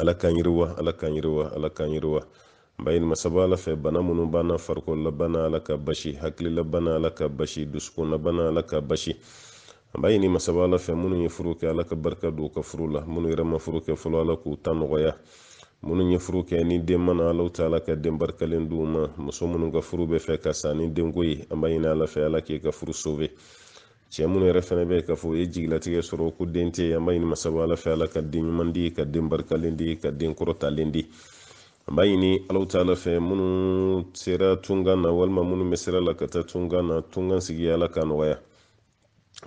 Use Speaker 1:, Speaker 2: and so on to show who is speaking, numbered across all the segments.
Speaker 1: ala k'an yiriwa ala k'an yiriwa ala k'an yiriwa an b'a ɲini masaba ala fɛ bana minnu b'an na farikololabana ala k'a basi hakililabana ala k'a basi dusukunlabana ala k'a basi an b'a ɲini masaba ala fɛ minnu ye furu kɛ ala ka barika don u ka furu la minnu yɛrɛ ma furu kɛ fɔlɔ ala k'u ta nɔgɔya minnu ye furu kɛ ni den ma na alaw taala ka den barikalen d'u ma muso minnu ka furu bɛ fɛ ka sa ni denko ye an b'a ɲini ala fɛ ala k'e ka furu sove cɛ minnu yɛrɛ fɛnɛ bɛ k'a fɔ u ye jigilatigɛ sɔrɔ ko den tɛ an b'a ɲini masaba ala fɛ ala ka den ɲuman di ka den barikalen di ka den kɔrɔtalen di an b'a ɲini alaw taala fɛ minnu sera tunkan na walima minnu bɛ sira la ka taa tunkan na tunkan sigi ala k'a nɔgɔya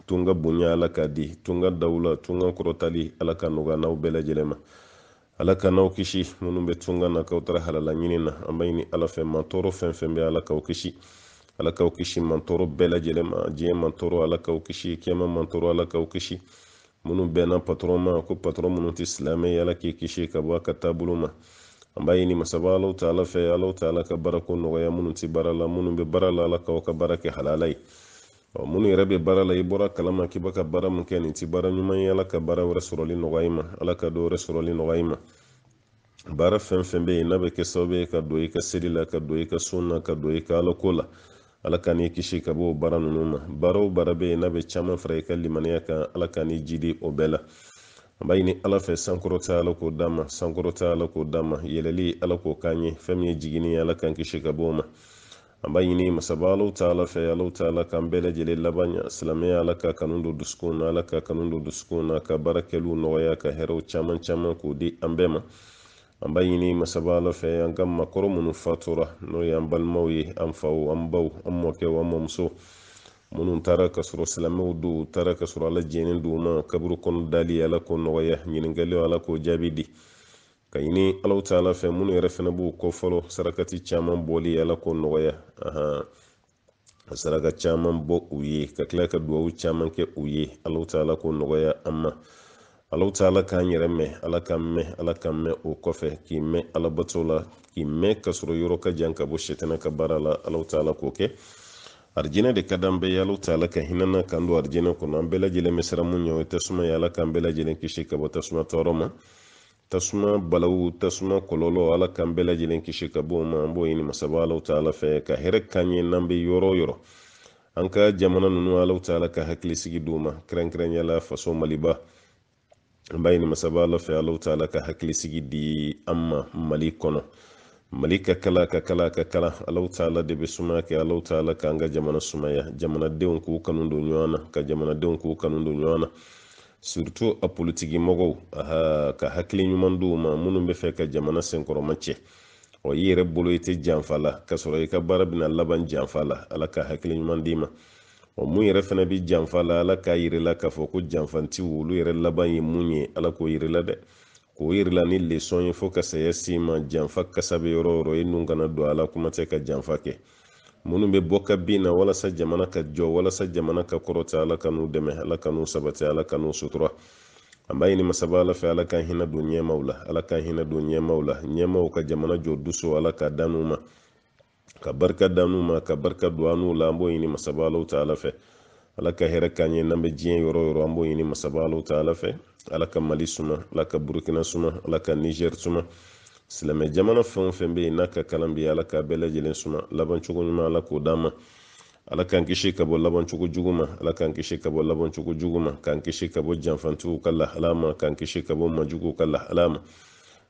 Speaker 1: tunga bonya ala k'a di tunga dawula tunga kɔrɔtali ala k'a nɔgɔya n'aw bɛɛ lajɛlen ma ala ka n'aw kisi minnu bɛ tunga na k'aw taara halala ɲini na an b'a ɲini ala fɛ mantɔɔrɔ fɛn fɛn bɛ ala k'aw kisi ala k'aw kisi mantɔɔrɔ bɛɛ lajɛlen ma diɲɛ mantɔɔrɔ ala k'aw kisi kiyama mantɔɔrɔ ala k'aw kisi minnu bɛnna patɔrɔn ma ko patɔrɔn minnu tɛ silamɛ ye ala k'i kisi ka bɔ a ka taabolo ma an b'a ɲini masaba alaw taala fɛ alaw taala ka baarako nɔgɔya minnu tɛ baara la minnu bɛ baara la ala k'aw ka baara kɛ halala ye ɔ minnu yɛrɛ bɛ baara la i bɔra a kalama k'i bɛ ka baara min kɛ nin tɛ baara ɲuman ye ala ka baara wɛrɛ sɔrɔli nɔgɔya i ma ala ka dɔ wɛrɛ sɔrɔli nɔgɔya i ma baara fɛn fɛn bɛ yen n'a bɛ kɛ sababu ye ka don i ka seli la ka don i ka sun na ka don i ka alako la ala ka n'i kisi ka bɔ o baara ninnu ma baara o baara bɛ yen n'a bɛ caman fara i ka limaniya kan ala ka n'i jidi o bɛɛ la an b'a ɲini ala fɛ sankɔrɔta ala k'o d'an ma sankɔrɔta ala k'o d'an ma yɛlɛli ala k'o k'an ye fɛn min ye jiginni ye ala k'an kisi ka bɔ o ma an b'a ɲini masaba alaw taala fɛ alaw taala k'an bɛɛ lajɛlen laban ɲa silamɛya ala k'a kanu don dusukunw na ala k'a kanu don dusukunw na ka baara kɛliw nɔgɔya ka hɛrɛw caman caman k'o di an bɛɛ ma an b'a ɲini masaba ala fɛ an ka maakɔrɔ minnu fatura n'o ye an balimaw ye an faw an baw an mɔkɛw an mɔmuso minnu taara ka sɔrɔ silamɛw don u taara ka sɔrɔ ala jɛnnen don u ma kaburu kɔnɔ dali ala k'o nɔgɔya ɲininkaliw ala k'o jaabi di k'a ɲini alaw taala fɛ minnu yɛrɛ fɛnɛ b'u kɔ fɔlɔ sarakati caman bɔli ala k'o nɔgɔya ahan ka saraka caman bɔ u ye ka tila ka duwawu caman kɛ u ye alaw taala k'o nɔgɔya an ma alaw taala k'an yɛrɛ mɛn ala k'an mɛn ala k'an mɛn o kɔfɛ k'i mɛn alabato la k'i mɛn ka sɔrɔ i yɔrɔ ka jan ka bɔ sɛtɛnɛ ka baara la alaw taala k'o kɛ arijinɛ de ka d'an bɛɛ ye alaw taala ka hinɛ na k'an don arijinɛ kɔnɔ an bɛɛ lajɛlen bɛ siran mun ɲɛ o ye tasuma ye ala k'an bɛɛ lajɛlen kisi ka bɔ tasuma tɔɔrɔ ma tasuma balawu tasuma kɔlɔlɔ ala k'an bɛɛ lajɛlen kisi ka bɔ o ma an b'o ɲini masaba alaw taala fɛ ka hɛrɛ k'an ye n'an bɛ yɔrɔ o yɔrɔ an ka jamana ninnu alaw taala ka hakilisigi d'u ma kɛrɛnkɛrɛnya la faso maliba an b'a ɲini masaba ala fɛ alaw taala ka hakilisigi di an ma mali kɔnɔ mali ka kalan ka kalan ka kalan alaw taala de bɛ sumaya kɛ alaw taala k'an ka jamana sumaya jamanadenw k'u kanu don ɲɔgɔn na ka jamanadenw k'u kanu don ɲɔgɔn na surtout a politiki mɔgɔw ala ka hakili ɲuman d'u ma minnu b'a fɛ ka jamana senkɔrɔma cɛ ɔ i yɛrɛ bolo i tɛ janfa la ka sɔrɔ i ka baara bɛna laban janfa la ala ka hakili ɲuman d'i ma ɔ mun yɛrɛ fana bɛ janfa la ala k'a yir'i la k'a fɔ ko janfantiw olu yɛrɛ laban ye mun ye ala k'o yir'i la dɛ k'o yir'i la ni lesɔn ye fo ka saya s'i ma janfa kasa bɛ yɔrɔ o yɔrɔ i nun kana don a la kuma tɛ ka janfa kɛ minnu bɛ bɔ ka bin na walasa jamana ka jɔ walasa jamana ka kɔrɔta ala k'an n'u dɛmɛ ala k'an n'u sabati ala k'an n'u sutura an b'a ɲini masaba ala fɛ ala k'an hinɛ don ɲɛmaw la ala k'an hinɛ don ɲɛmaw la ɲɛmaw ka jamana jɔ dusu ala k'a d'an n'u ma ka barika d'an n'u ma ka barika don an n'u la an b'o ɲini masaba alaw ta ala fɛ ala ka hɛrɛ k'an ye n'an bɛ diɲɛ yɔrɔ o yɔrɔ an b'o ɲini masaba alaw ta ala fɛ ala ka mali suma ala ka burukina suma ala ka niger suma silamɛ jamana fɛn o fɛn bɛ yen n'a ka kalan bi ala k'a bɛɛ lajɛlen suma labancogo ɲuman ala k'o d'an ma ala k'an kisi ka bɔ labancogo jugu ma ala k'an kisi ka bɔ labancogo jugu ma k'an kisi ka bɔ janfantigiw ka lahala ma k'an kisi ka bɔ majuguw ka lahala ma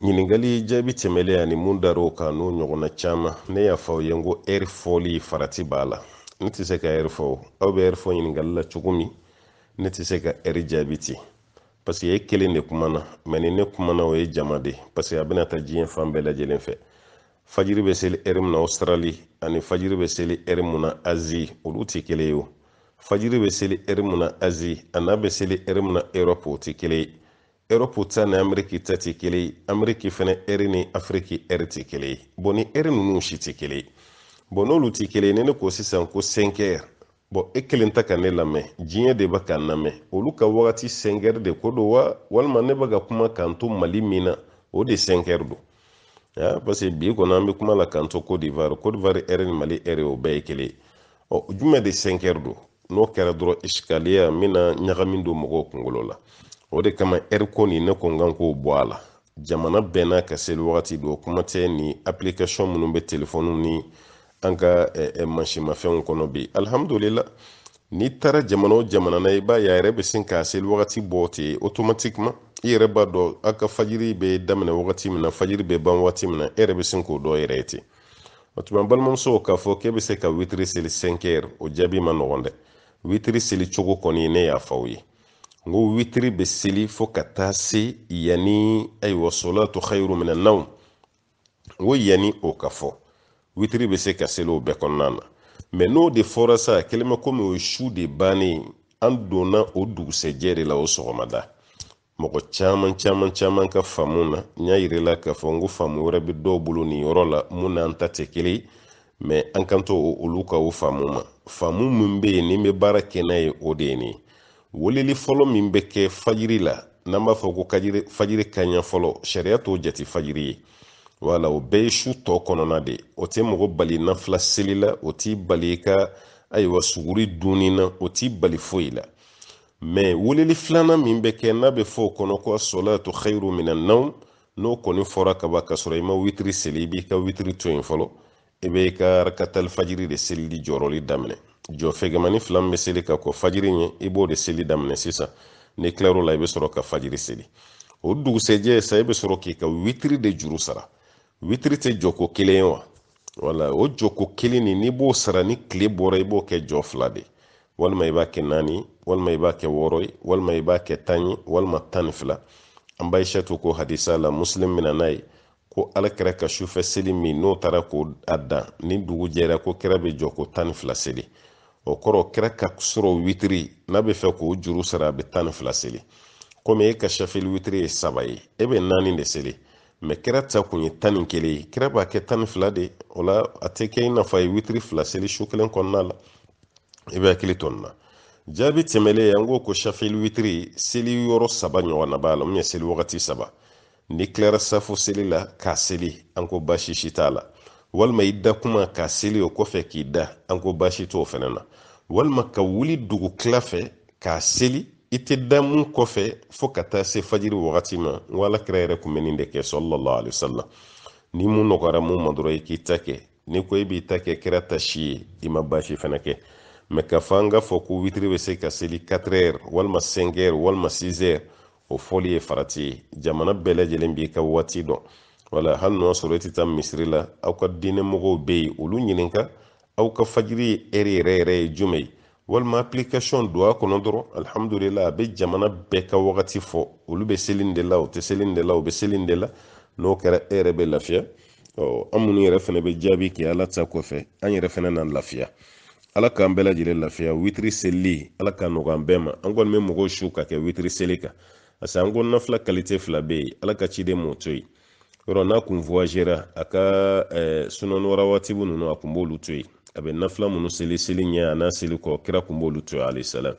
Speaker 1: ɲininkali jaabi tɛmɛlen ani mun dar'o kan n'o ɲɔgɔnna caman ne y'a fɔ aw ye n ko ɛri fɔli farati b'a la ne tɛ se ka ɛri fɔ aw bɛ ɛri fɔ ɲininkali la cogo min ne tɛ se ka ɛri jaabi ten paseke e kelen de kumana mɛ ni ne kumana o ye jama de paseke a bɛna taa diɲɛ fan bɛɛ lajɛlen fɛ fajiri bɛ seli ɛri mun na ɔsitirali ani fajiri bɛ seli ɛri mun na azi olu tɛ kelen ye o fajiri bɛ seli ɛri mun na azi an'a bɛ seli ɛri mun na erɔpu o tɛ kelen ye erɔpu ta ni ameriki ta tɛ kelen ye ameriki fana ɛri ni afiriki ɛri tɛ kelen ye bɔn ni ɛri ninnu si tɛ kelen ye bɔn n'olu tɛ kelen ye ni ne ko sisan ko sɛnkɛri bɔn e kelen tɛ ka ne lamɛn diɲɛ de bɛ ka n lamɛn olu ka wagati sɛnkɛri de ko don wa walima ne bɛ ka kuma k'an to mali min na o de sɛnkɛri don wa parce que bi kɔnɔ an bɛ kuma la k'an to Côte d'Ivoire Côte d'Ivoire ɛri ni Mali ɛri o bɛɛ ye kelen o jumɛn de sɛnkɛri don n'o kɛra dɔrɔn isikaliya min na ɲagami don mɔgɔw kunkolo la o de kama ɛri ko nin ne ko n kan k'o bɔ a la jamana bɛɛ n'a ka seli wagati don kuma tɛ ni application minnu bɛ telefɔniw ni an ka mansinmafɛnw kɔnɔ bi alihamudulila n'i taara jamana o jamana na i b'a ye a yɛrɛ bɛ sin k'a seli wagati bɔ ten otomatikima i yɛrɛ b'a dɔn a ka fajiri bɛ daminɛ wagati min na fajiri bɛ ban wagati min na e yɛrɛ bɛ sin k'o dɔn yɛrɛ ye ten o tuma balimamuso k'a fɔ k'e bɛ se ka witiri seli sɛnkɛri o jaabi ma nɔgɔn dɛ witiri seli cogo kɔni ne y'a fɔ aw ye n ko witiri bɛ seli fo ka taa se yanni ayiwa solatu xayiru mina naw n ko yanni o ka fɔ witiri bɛ se ka seli o bɛɛ kɔnɔna na mɛ n'o de fɔra sa kɛlen bɛ komi o ye su de bannen an donna o dugusɛjɛ de la o sɔgɔmada mɔgɔ caman caman caman ka faamu na n y'a yir'i la k'a fɔ n ko faamu wɛrɛ bɛ dɔw bolo nin yɔrɔ la mun n'an ta tɛ kelen ye mɛ an k'an to olu ka o faamu ma faamu min bɛ yen ni n bɛ baara kɛ n'a ye o de ye nin ye weleli fɔlɔ min bɛ kɛ fajiri la n'an b'a fɔ ko fajiri kaɲɛ fɔlɔ sariya t'o jate fajiri ye wala o bɛɛ ye su tɔ kɔnɔna de o tɛ mɔgɔ bali nafila seli la o t'i bali i ka ayiwa suguri dunni na o t'i bali foyi la mɛ weleli filanan min bɛ kɛ n'a bɛ fɔ o kɔnɔ ko asolatu khairu minan nawm n'o kɔni fɔra kaban k'a sɔrɔ i ma witiri seli i b'i ka witiri to yen fɔlɔ i bɛ i ka rakatali fajiri de selili jɔrɔli daminɛ jɔ fɛgɛmani fila min bɛ seli ka kɔn fajiri ɲɛ i b'o de seli daminɛ sisan n'i tilar'o la i bɛ sɔrɔ ka fajiri seli o dugusɛjɛ sa i bɛ sɔrɔ k'i ka witiri de juru sara witiri tɛ jɔko kelen ye wa wala o jɔko kelen nin n'i b'o sara ni tile bɔra i b'o kɛ jɔ fila de walima i b'a kɛ naani walima i b'a kɛ wɔɔrɔ ye walima i b'a kɛ tan ye walima tan ni fila an ba aisatu ko hadisa la muslim nana n'a ye ko ala kira ka sufɛ seli min n'o taara k'a dan ni dugu jɛra ko kira bɛ jɔko tan ni fila seli o kɔrɔ kira ka surɔ witiri n'a bɛ fɛ k'o juru sara a bɛ tan ni fila seli komi e ka shafil witiri ye saba ye e bɛ naani de seli mɛ kira ta kun ye tan ni kelen ye kira b'a kɛ tan ni fila de o la a tɛ kɛ i n'a fɔ a ye witiri fila seli su kelen kɔnɔna la i b'i hakili to nin na jaabi tɛmɛlen an ko ko shafil witiri seli yɔrɔ saba ɲɔgɔnna b'a la mun ye seli wagati saba n'i tilara safu seli la k'a seli an ko baasi si t'a la walima i da kuma k'a seli o kɔfɛ k'i da an ko baasi t'o fɛnɛ na walima ka wuli dugu tila fɛ k'a seli i tɛ da mun kɔfɛ fo ka taa se fajiri wagati ma n ko ala kira yɛrɛ kun bɛ nin de kɛ sallallahu alaihi wasallam ni mun nɔgɔyara mun ma dɔrɔn i k'i ta kɛ ni ko i b'i ta kɛ kira ta si ye i ma baasi fɛnɛ kɛ mɛ k'a fɔ an k'a fɔ ko witiri bɛ se ka seli 4 heures walima 5 heures walima 6 heures o fɔli ye farati ye jamana bɛɛ lajɛlen b'i ka waati dɔn wala hali n'o y'a sɔrɔ i tɛ taa misiri la aw ka diinɛ mɔgɔw bɛ yen olu ɲininka aw ka fajiri heure yɛrɛ yɛrɛ ye jumɛn ye walima application don a kɔnɔ dɔrɔn alhamdulillahi a bɛ jamana bɛɛ ka wagati fɔ olu bɛ seli nin de la u tɛ seli nin de la u bɛ seli nin de la n'o kɛra e yɛrɛ bɛ lafiya ɔ an minnu yɛrɛ fɛnɛ bɛ jaabi kɛ ala ta kɔfɛ an yɛrɛ fɛnɛ na lafiya ala k'an bɛɛ lajɛlen lafiya witiri selili ala k'a nɔgɔya an bɛɛ ma an kɔni bɛ mɔgɔw su ka kɛ witiri seli kan parce que an ko nafila kalite fila bɛ yen ala ka ciden m'o to yen yɔrɔ n'a kun voyagera a ka sunanu rawatibu ninnu a kun b'olu to yen a bɛ nafila minnu seli seli ɲɛ a n'a seli kɔ kira kun b'olu to alayhi salam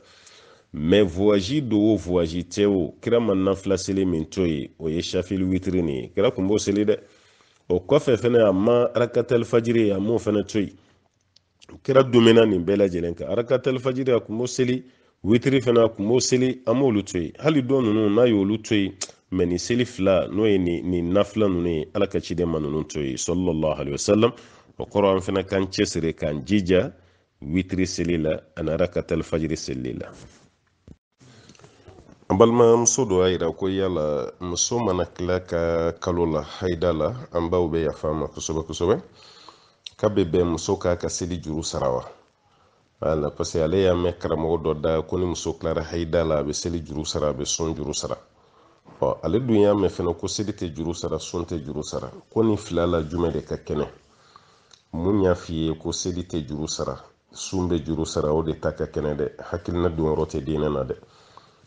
Speaker 1: mɛ voyazi don wo voyazi tɛ wo kira ma nafila seli min to yen o ye shafili witiri nin ye kira kun b'o seli dɛ o kɔfɛ fɛnɛ a ma arakatali fajiri a m'o fɛnɛ to yen kira dumɛna nin bɛɛ lajɛlen kan arakatali fajiri a kun b'o seli witiri fana a kun b'o seli a m'olu to yen hali tɔ ninnu n'a y'olu to yen mɛ nin seli fila n'o ye nin nin nafila ninnu ye ala ka ciden ma ninnu to yen sallallahu alaihi wasallam o kɔrɔ an fana k'an cɛsiri k'an jija witiri seli la ani arakatali fajiri seli la an balimamuso dɔ y'a yira ko yala muso mana tila a ka kalo la haida la an baw bɛ yafa an ma kosɛbɛ kosɛbɛ k'a bɛ bɛn muso k'a ka seli juru sara wa wala parce que ale y'a mɛn karamɔgɔ dɔ da ko ni muso tilara hayida la a bɛ seli juru sara a bɛ sun juru sara ɔ ale dun y'a mɛn fɛnɛ ko seli tɛ juru sara sun tɛ juru sara ko nin fila la jumɛn de ka kɛnɛ mun y'a f'i ye ko seli tɛ juru sara sun bɛ juru sara o de ta ka kɛnɛ dɛ hakilina donyɔrɔ tɛ diinɛ na dɛ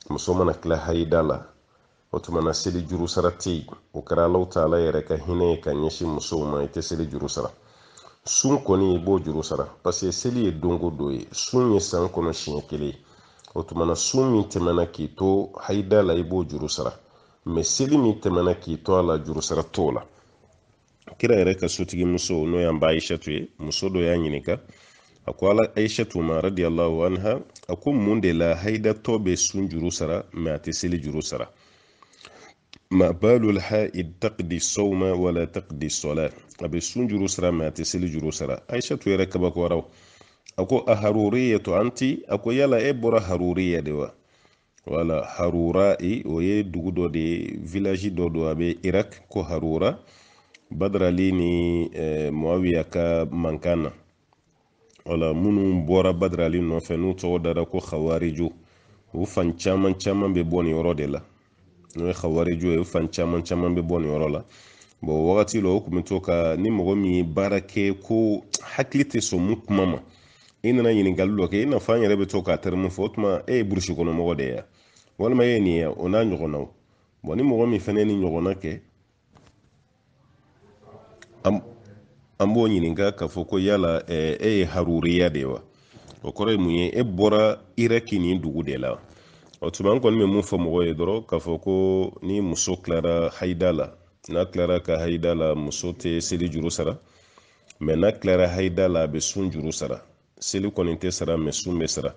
Speaker 1: muso mana tila hayida la o tuma na seli juru sara tɛ yen o kɛra alahu taala yɛrɛ ka hinɛ ye ka ɲɛsin musow ma i tɛ seli juru sara sun kɔni i b'o juru sara paseke seli ye don go don ye sun ye san kɔnɔ siɲɛ kelen ye o tuma na sun min tɛmɛna k'i to hayida la i b'o juru sara mɛ seli min tɛmɛna k'i to a la juru sara t'o la kira yɛrɛ ka sotigi muso n'o y'an ba aishatu ye muso dɔ y'a ɲininka a ko ala aishatu ma radiyallahu anha a ko mun de la haidatɔ bɛ sun juru sara mɛ a tɛ seli juru sara ma balul haid taqdi sawma wala taqdi salat a bɛ sun juru sara mɛ a tɛ seli juru sara aishatu yɛrɛ kabakoyara a ko a haruriyatu anti a ko yala e bɔra haruriya de wa wala harura o ye dugu dɔ de ye vilaji dɔ don a bɛ irak ko harura badra ali ni eh, moawiya ka mankan na wala minnu bɔra badra ali nɔfɛ n'u tɔgɔ dara ko hawariju u fan caman caman bɛ bɔ nin yɔrɔ de la n'o ye hawariju ye u fan caman caman bɛ bɔ nin yɔrɔ la bɔn o wagati la o kun bɛ to ka ni mɔgɔ min ye baara kɛ ko hakili tɛ sɔn mun kuma ma i nana ɲininkali dɔ kɛ i n'a fɔ an yɛrɛ bɛ to k'a tɛrimu fɔ o tuma e ye burusi kɔnɔ mɔgɔ de ye walima e ye nin ye o n'a ɲɔgɔnnaw bɔn ni mɔgɔ min fana ye nin ɲɔgɔnna kɛ an b'o ɲininka k'a fɔ ko yala e ye haruriya de ye wa o kɔrɔ ye mun ye e bɔra iraki nin dugu de la o tuma an kɔni bɛ mun fɔ mɔgɔ ye dɔrɔn k'a fɔ ko ni muso tilara hayida la n'a tilara ka hayida la muso tɛ seli juru sara mɛ n'a tilara haida la a bɛ sun juru sara seli kɔni tɛ sara mɛ sun bɛ sara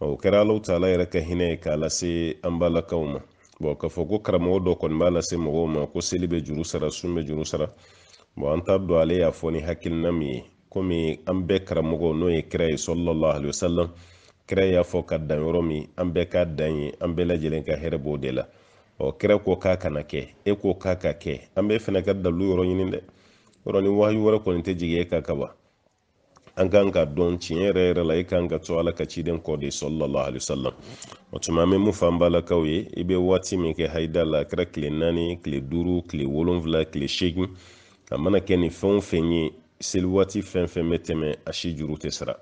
Speaker 1: o kɛra alahu taala yɛrɛ ka hinɛ ye k'a lase an balakaw ma bɔn k'a fɔ ko karamɔgɔ dɔ kɔni b'a lase mɔgɔw ma ko seli bɛ juru sara sun bɛ juru sara bɔn an t'a dɔn ale y'a fɔ ni hakilina min ye komi an bɛɛ karamɔgɔ n'o ye kira ye salalahu alayhi wa sallam kira y'a fɔ ka dan yɔrɔ min an bɛɛ ka dan yen an bɛɛ lajɛlen ka hɛrɛ b'o de la ɔ kira ko k'a kana kɛ e ko k'a ka kɛ an bɛɛ fana ka dalu yɔrɔ ɲini dɛ yɔrɔ ni wahayu wɛrɛ kɔni tɛ jigin e kan kaban an kan k'a dɔn tiɲɛ yɛrɛ yɛrɛ la i kan ka to ala ka ciden kɔ de salalahu alayhi wa sallam o tuma an bɛ mun fɔ an balakaw ye i bɛ waati min kɛ hayida la a kɛra tile naani tile duuru tile wolonfila tile seegin a mana kɛ nin fɛn o fɛn ye seli waati fɛn fɛn bɛ tɛmɛ a si juru tɛ sara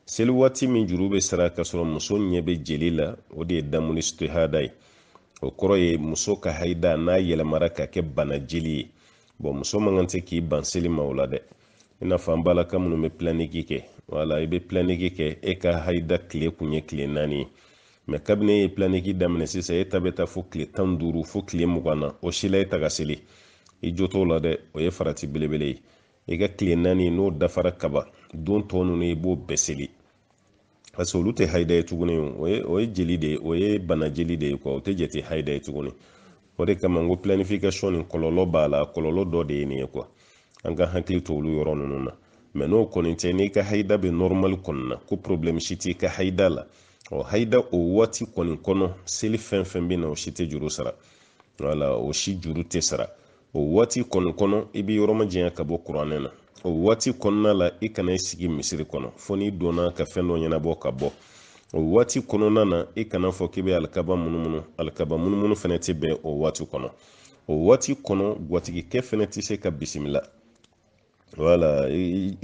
Speaker 1: seli waati min juru bɛ sara ka sɔrɔ muso ɲɛ bɛ jeli la o de ye damuli isitihada ye o kɔrɔ ye muso ka hayida n'a yɛlɛmara ka kɛ bana jeli ye bɔn muso man kan tɛ k'i ban seli ma o la dɛ i n'a fɔ an balaka minnu bɛ pilaniki kɛ wala i bɛ pilaniki kɛ e ka hayida tile kun ye tile naani ye mɛ kabini e ye pilaniki daminɛ sisan e ta bɛ taa fo tile tan ni duuru fo tile mugan na o si la e tɛ ka seli i jo t'o la dɛ o ye farati belebele ye i ka tile naani n'o dafara kaban don tɔ ninnu i b'o bɛɛ seli parce que olu tɛ hayida ye tuguni o ye o ye jeli de ye o ye bana jeli de ye kuwa o tɛ jate hayida ye tuguni o de kama n ko planification nin kɔlɔlɔ b'a la kɔlɔlɔ dɔ de ye nin ye kuwa an ka hakili to olu yɔrɔ ninnu na mɛ n'o kɔni tɛ n'i ka hayida bɛ nɔrɔmali kɔni na ko problɛmu si t'i ka hayida la ɔ hayida o waati kɔni kɔnɔ seli fɛn fɛn bɛ na o si tɛ juru sara wala o si juru tɛ sara o waati kɔni kɔnɔ i bɛ yɔrɔ majanya ka bɔ kuranɛ na o waati kɔnɔna la i kana i sigi misiri kɔnɔ fo n'i donna ka fɛn dɔ ɲɛnabɔ ka bɔ o waati kɔnɔna na i kan'a fɔ k'i bɛ alikaba munumunu alikaba munumunu fɛnɛ tɛ bɛn o waati kɔnɔ o waati kɔnɔ gwatigikɛ fɛnɛ tɛ se ka bisimila wala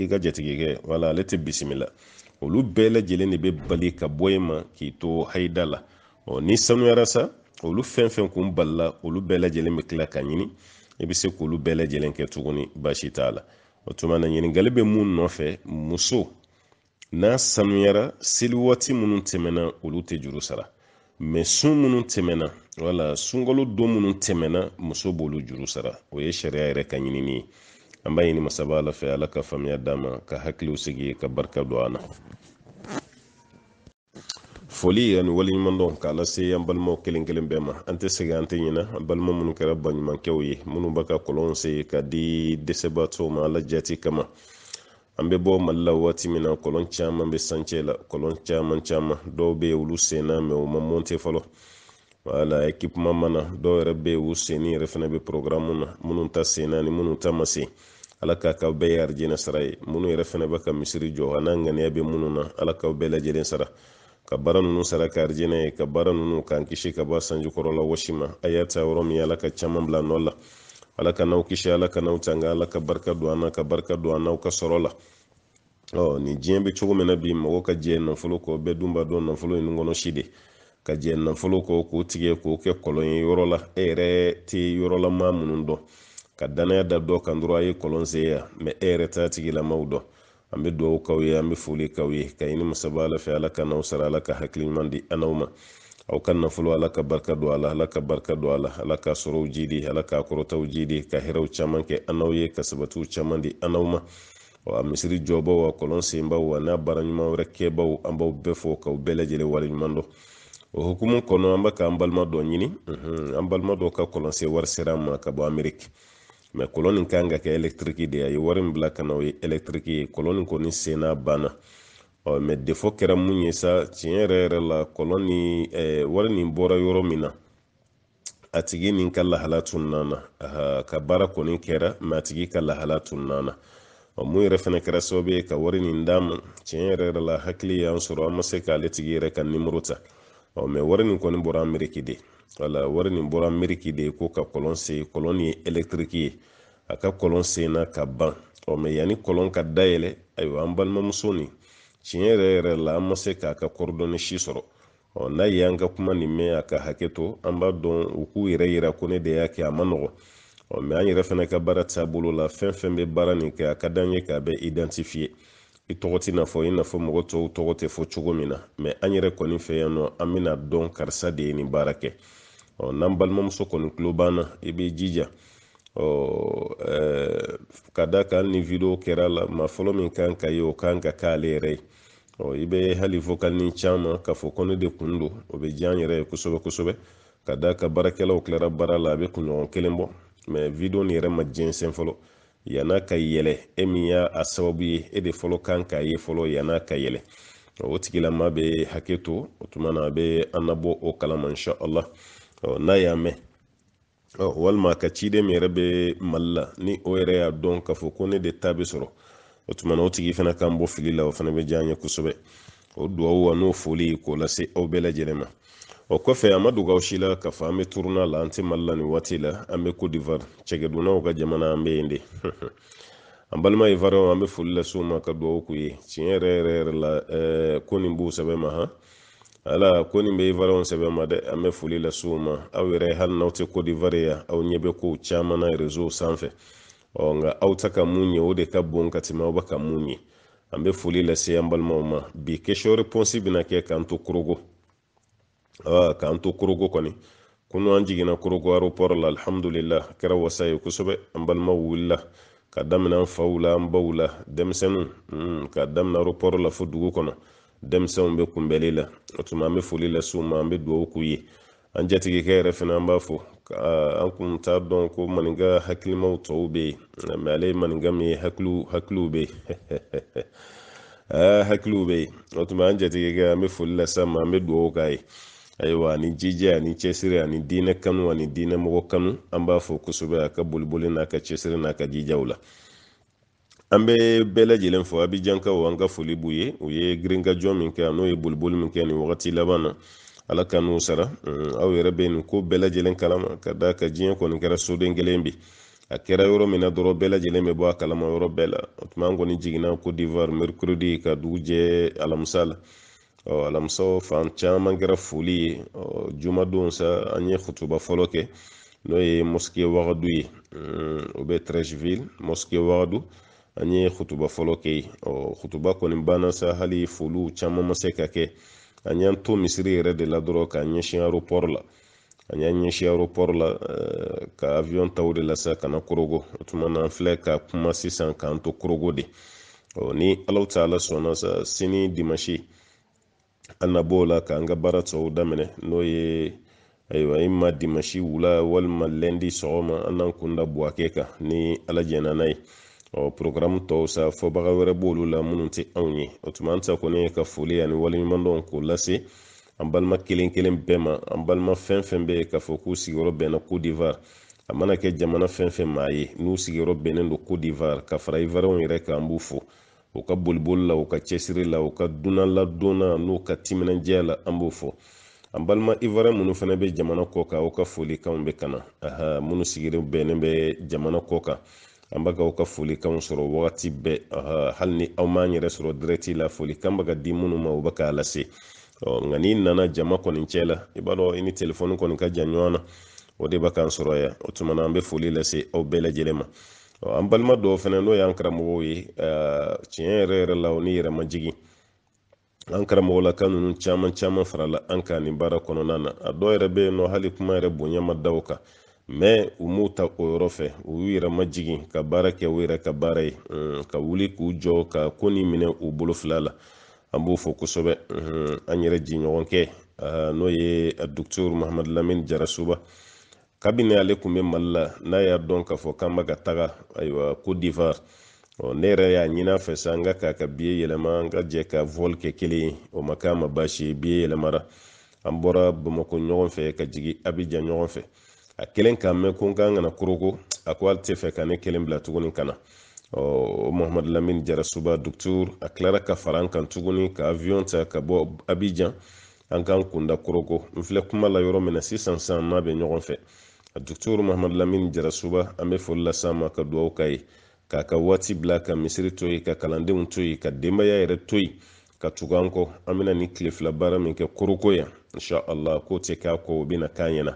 Speaker 1: i ka jatigikɛ wala ale tɛ bisimila olu bɛɛ lajɛlen de bɛ bali ka bɔ e ma k'i to hayida la ɔ n'i sanuyara sa olu fɛn fɛn kun balila olu bɛɛ lajɛlen bɛ tila ka ɲini i bɛ se k'olu bɛɛ lajɛlen kɛ tuguni baasi t'a la o tuma na ɲininkali bɛ mun nɔfɛ muso n'a sanuyara seli waati minnu tɛmɛna olu tɛ juru sara mɛ sun minnu tɛmɛna wala sunkalo don minnu tɛmɛna muso b'olu juru sara o ye sariya yɛrɛ ka ɲinini ye an b'a ɲini masaba ala fɛ ala ka faamuya d'an ma ka hakiliw sigi ka barika don an na foli ani waleɲumandɔn k'a lase an balimaw kelen kelen bɛɛ ma an tɛ sɛgɛn an tɛ ɲina an balima minnu kɛra baɲumankɛw ye minnu bɛ ka kɔlɔnw sen ka di dɛsɛbaatɔw ma ala jaati kama an bɛ bɔ mali la waati min na kɔlɔn caman bɛ chantier la kɔlɔn caman caman dɔw bɛ yen olu senna mɛ u ma mɔnte fɔlɔ wala ekipeman ma na dɔw yɛrɛ bɛ yen u senni yɛrɛ fana bɛ porogaramu na minnu ta senna ni minnu ta ma sen ala k'a k'aw bɛɛ ye arijinɛ sara ye minnu yɛrɛ fana bɛ ka misiri jɔ a n'a ŋaniya bɛ minnu na ala k'aw bɛɛ lajɛlen sara ka baara ninnu sara kɛ arijinɛ ye ka baara ninnu k'an kisi ka bɔ sanji kɔrɔla wɔsi ma a y'a ta yɔrɔ min ala ka caman bila nɔ la ala ka n'aw kisi ala ka n'aw tanga ala ka barika don an na ka barika don an n'aw ka sɔrɔ la ɔ nin diɲɛ bɛ cogo min na bi mɔgɔ ka jɛn nafolo kɔ bɛɛ dun b'a dɔn nafolo ye nun kɔnɔ si de ka jɛn nafolo kɔ k'o tigɛ k'o kɛ kɔlɔn ye yɔrɔ la e yɛrɛ tɛ yɔrɔla maa minnu dɔn ka danaya da dɔ kan dɔrɔn a ye kɔlɔn sen yan mɛ e yɛrɛ t'a tigilamaw dɔn an bɛ dugawu k'aw ye an bɛ foli k'aw ye ka ɲini masaba ala fɛ ala ka n'aw sara ala ka hakili ɲuman di an ma aw ka nafolo ala ka barika don a la ala ka barika don a la ala ka sɔrɔw jidi ala ka kɔrɔtaw jidi ka hɛrɛw caman kɛ an n'aw ye ka sabatiw caman di an n'aw ma a misiri jɔbaw a kɔlɔn senbaw a n'a baara ɲuman wɛrɛ kɛbaw an b'aw bɛɛ fo k'aw bɛɛ lajɛlen wale ɲuman dɔn o hukumu kɔnɔ an bɛ k'an balima dɔ ɲini an balima dɔ ka kɔlɔnsen wari sera an ma ka bɔ ameriki mɛ kɔlɔn nin kan ka kɛ ɛlɛktiriki de ye a ye wari min bila ka na o ye ɛlɛktiriki ye kɔlɔn nin kɔni senna banna ɔ mɛ defɔ kɛra mun ye sa tiɲɛ yɛrɛ yɛrɛ la kɔlɔn ni wari nin bɔra yɔrɔ min na a tigi nin ka lahala tununa an na ka baara kɔni kɛra mɛ a tigi ka lahala tununa an na min yɛrɛ fɛnɛ kɛra sababu ye ka wari nin d'an ma tiɲɛ yɛrɛ yɛrɛ la hakili y'an sɔrɔ an ma se k'ale tigi yɛrɛ ka nimoro ta mɛ wari nin kɔni bɔra ameriki de wala wari nin bɔra ameriki de ko ka kɔlɔn sen kɔlɔn nin ye elektiriki ye a ka kɔlɔn senna ka ban ɔ mɛ yanni kɔlɔn ka dayɛlɛ ayiwa an balimamuso nin tiɲɛ yɛrɛ yɛrɛ la an ma se k'a ka kɔrɔdɔne si sɔrɔ ɔ n'a ye an ka kuma nin mɛn a ka hakɛ to an b'a dɔn u k'u yɛrɛ yira ko ne de y'a kɛ a man nɔgɔ ɔ mɛ an yɛrɛ fana ka baara taabolo la fɛn fɛn bɛ baara nin kɛ a ka d'an ye k'a bɛɛ identifiye i tɔgɔ tɛna fɔ i n'a fɔ mɔgɔ tɔw tɔgɔ tɛ fɔ cogo min na mɛ an yɛrɛ kɔni fɛ yan nɔ an bɛn'a dɔn karisa de ye nin baara kɛ ɔ n'an balimamuso kɔni tulo b'an na i b'i jija ka d'a kan ni video kɛra la maa fɔlɔ min kan k'a ye o kan ka k'ale yɛrɛ ye ɔ i bɛ hali vokalinin ci an ma k'a fɔ ko ne de kun don o bɛ diya an yɛrɛ ye kosɛbɛ kosɛbɛ ka d'a kan baarakɛlaw tilara baara la a bɛ kunɲɔgɔn kelen bɔ mɛ video nin yɛrɛ ma jɛnsɛn fɔlɔ yan'a ka yɛlɛ e min y'a sababu ye e de fɔlɔ kan k'a ye fɔlɔ yan'a ka yɛlɛ o tigilama bɛ hakɛ to o tuma na a bɛ an nabɔ o kalama insha allah n'a y'a mɛn walima ka ciden min yɛrɛ bɛ mali la ni o yɛrɛ y'a dɔn k'a fɔ ko ne de ta bɛ sɔrɔ o tuma na o tigi fana k'an bɔ fili la o fana bɛ diya an ye kosɛbɛ o duwawu a n'o foli k'o lase aw bɛɛ lajɛlen ma o kɔfɛ a ma dogo aw si la k'a fɔ an bɛ turune la an tɛ mali la nin waati la an bɛ cote d'ivoire cɛkɛdunnaw ka jamana an bɛ yen de an balima ivariyɛnw an bɛ foli lase u ma ka duwawu k'u ye tiɲɛ yɛrɛ yɛrɛ yɛrɛ la ko nin b'u sɛbɛ ma han ala kɔni bɛ ivarɛw sɛbɛn ma dɛ an bɛ foli lase u ma aw yɛrɛ hali n'aw tɛ kodivare yan aw ɲɛ bɛ kow caman na rezow sanfɛ ɔ nka aw tɛ ka mun ye o de ka bon ka tɛmɛ aw bɛ ka mun ye an bɛ foli lase an balimaw ma bi kesiyɔ repɔnsi bɛna kɛ k'an to korogo aa k'an to korogo kɔni kunu an jiginna korogo aropɔrɔ la alihamudulila a kɛra wasa ye kosɛbɛ an balimaw wulila ka daminɛ an faw la an baw la denmisɛnninw hmm, ka daminɛ aropɔrɔ la fo dugu kɔnɔ denmisɛnw bɛ kunbɛli la o tuma an bɛ foli lase u ma an bɛ dugawu k'u ye an jatigikɛ yɛrɛ fana an b'a fo an kun t'a dɔn ko maninka hakilimaw tɔw bɛ yen mɛ ale ye maninka min ye hakiliw hakiliw bɛ yen hakiliw bɛ yen o tuma an jatigikɛ an bɛ foli lase a ma an bɛ dugawu k'a ye ayiwa ani jija ani cɛsiri ani diinɛ kanu ani diinɛ mɔgɔ kanu an b'a fo kosɛbɛ a ka boliboli n'a ka cɛsiri n'a ka jijaw la an bɛ bɛɛ lajɛlen fo abijankaw an ka foli b'u ye u ye girinkajɔ min kɛ ani u ye boliboli min kɛ nin wagati laban na ala ka n'u sara mm, aw yɛrɛ bɛ nin ko bɛɛ lajɛlen kalama k'a d'a kan diɲɛ kɔni kɛra soden kelen bi a kɛra yɔrɔ min na dɔrɔn bɛɛ lajɛlen bɛ bɔ a kalama yɔrɔ bɛɛ la o tuma an kɔni jiginna kodivar mercredi ka dugu jɛ alamisa la ɔ alamisa fan caman kɛra foli ye ɔ jumadon sa an ye kutuba fɔlɔ kɛ n'o ye mosike wagadu ye o bɛ trɛsivili mosike wagadu an ye kutuba fɔlɔ kɛ yen ɔ kutuba kɔni banna sa hali foliw caman ma se ka kɛ an y'an to misiri yɛrɛ de la dɔrɔn k'an ɲɛsin aropɔri la an y'an ɲɛsin aéroport la eh, ka avion ta o de la sa ka na korogo o tuma na an filɛ ka kuma sisan k'an to korogo de ɔ ni alahu taala sɔnna sa sini dimanche an na b'o la k'an ka baara tɔw daminɛ n'o ye ayiwa imma dimanche wula walima lɛndi sɔgɔma an n'an kun da buwake kan ni ala jɛnna n'a ye ɔ porogaramu tɔw sa fɔbaga wɛrɛ b'olu la minnu tɛ anw ye o tuma an ta kɔni ye ka foli ani waleɲumandɔn k'o lase an balima kelen kelen bɛɛ ma an balima fɛn fɛn bɛ yen k'a fɔ k'u sigiyɔrɔ bɛnna kodivar a mana kɛ jamana fɛn fɛn maa ye n'u sigiyɔrɔ bɛnnen don kodivar ka fara ivarɛnw yɛrɛ kan an b'u fo u ka boliboli la u ka cɛsiri la u ka dunan ladonna n'u ka timinandiya la an b'u fo an balima ivarɛn minnu fana bɛ jamana kɔ kan aw ka folikanw bɛ ka na aha minnu sigiyɔrɔ bɛnnen bɛ jamana kɔ kan an b'a ka aw ka folikanw sɔrɔ wagati bɛɛ hali ni aw m'an yɛrɛ sɔrɔ dirɛti la folikan bɛ ka di minnu ma u bɛ k'a lase nka n'i nana jama kɔni cɛ la i b'a dɔn i ni telefɔni kɔni ka jan ɲɔgɔn na o de bɛ k'an sɔrɔ yan o tuma na an bɛ foli lase aw bɛɛ lajɛlen ma an balima dɔw fana n'o y'an karamɔgɔw ye tiɲɛ yɛrɛ yɛrɛ la o ni yɛrɛmajigin an karamɔgɔlaka ninnu caman caman farala an kan nin baara kɔnɔna na a dɔw yɛrɛ bɛ yen nɔ hali kuma yɛrɛ bonya ma da o kan mais u m'u ta o yɔrɔ fɛ u y'u yɛrɛ majigin ka baara kɛ u yɛrɛ ka baara ye ka wuli k'u jɔ ka ko nin minɛ u bolo fila la an b'o fɔ kosɛbɛ an yɛrɛ jiɲɔgɔnkɛ n'o ye docteur mahamadu lamini jarasuba kabini ale tun bɛ mali la n'a y'a dɔn k'a fɔ k'an bɛ ka taga ayiwa cote d'ivoire ɔ ne yɛrɛ y'a ɲin'a fɛ sa n k'a k'a ka biye yɛlɛma an ka jɛ ka vol kɛ kelen ye o ma k'a ma baasi ye biye yɛlɛmara an bɔra bamakɔ ɲɔgɔn fɛ ka jigi abijan ɲɔgɔn fɛ a kelen k'a mɛn ko n k'an ka na koroko a ko ale tɛ fɛ ka ne kelen bila tuguni ka na ɔ mahamadu lamini jarasuba docteur a tilara ka fara an kan tuguni ka aviyon ta ka bɔ abijan an k'an kunda koroko n filɛ kuma la yɔrɔ min na sisan an n'a bɛ ɲɔgɔn fɛ a docteur mahamadu lamini jarasuba an bɛ foli lase a ma ka dugawu k'a ye k'a ka waati bila ka misiri to yen ka kalandenw to yen ka denbaya yɛrɛ to yen ka tugu an kɔ an bɛna nin tile fila baara min kɛ koroko yan insha allah k'o tɛ k'a kɔ o bɛna k'a ɲɛna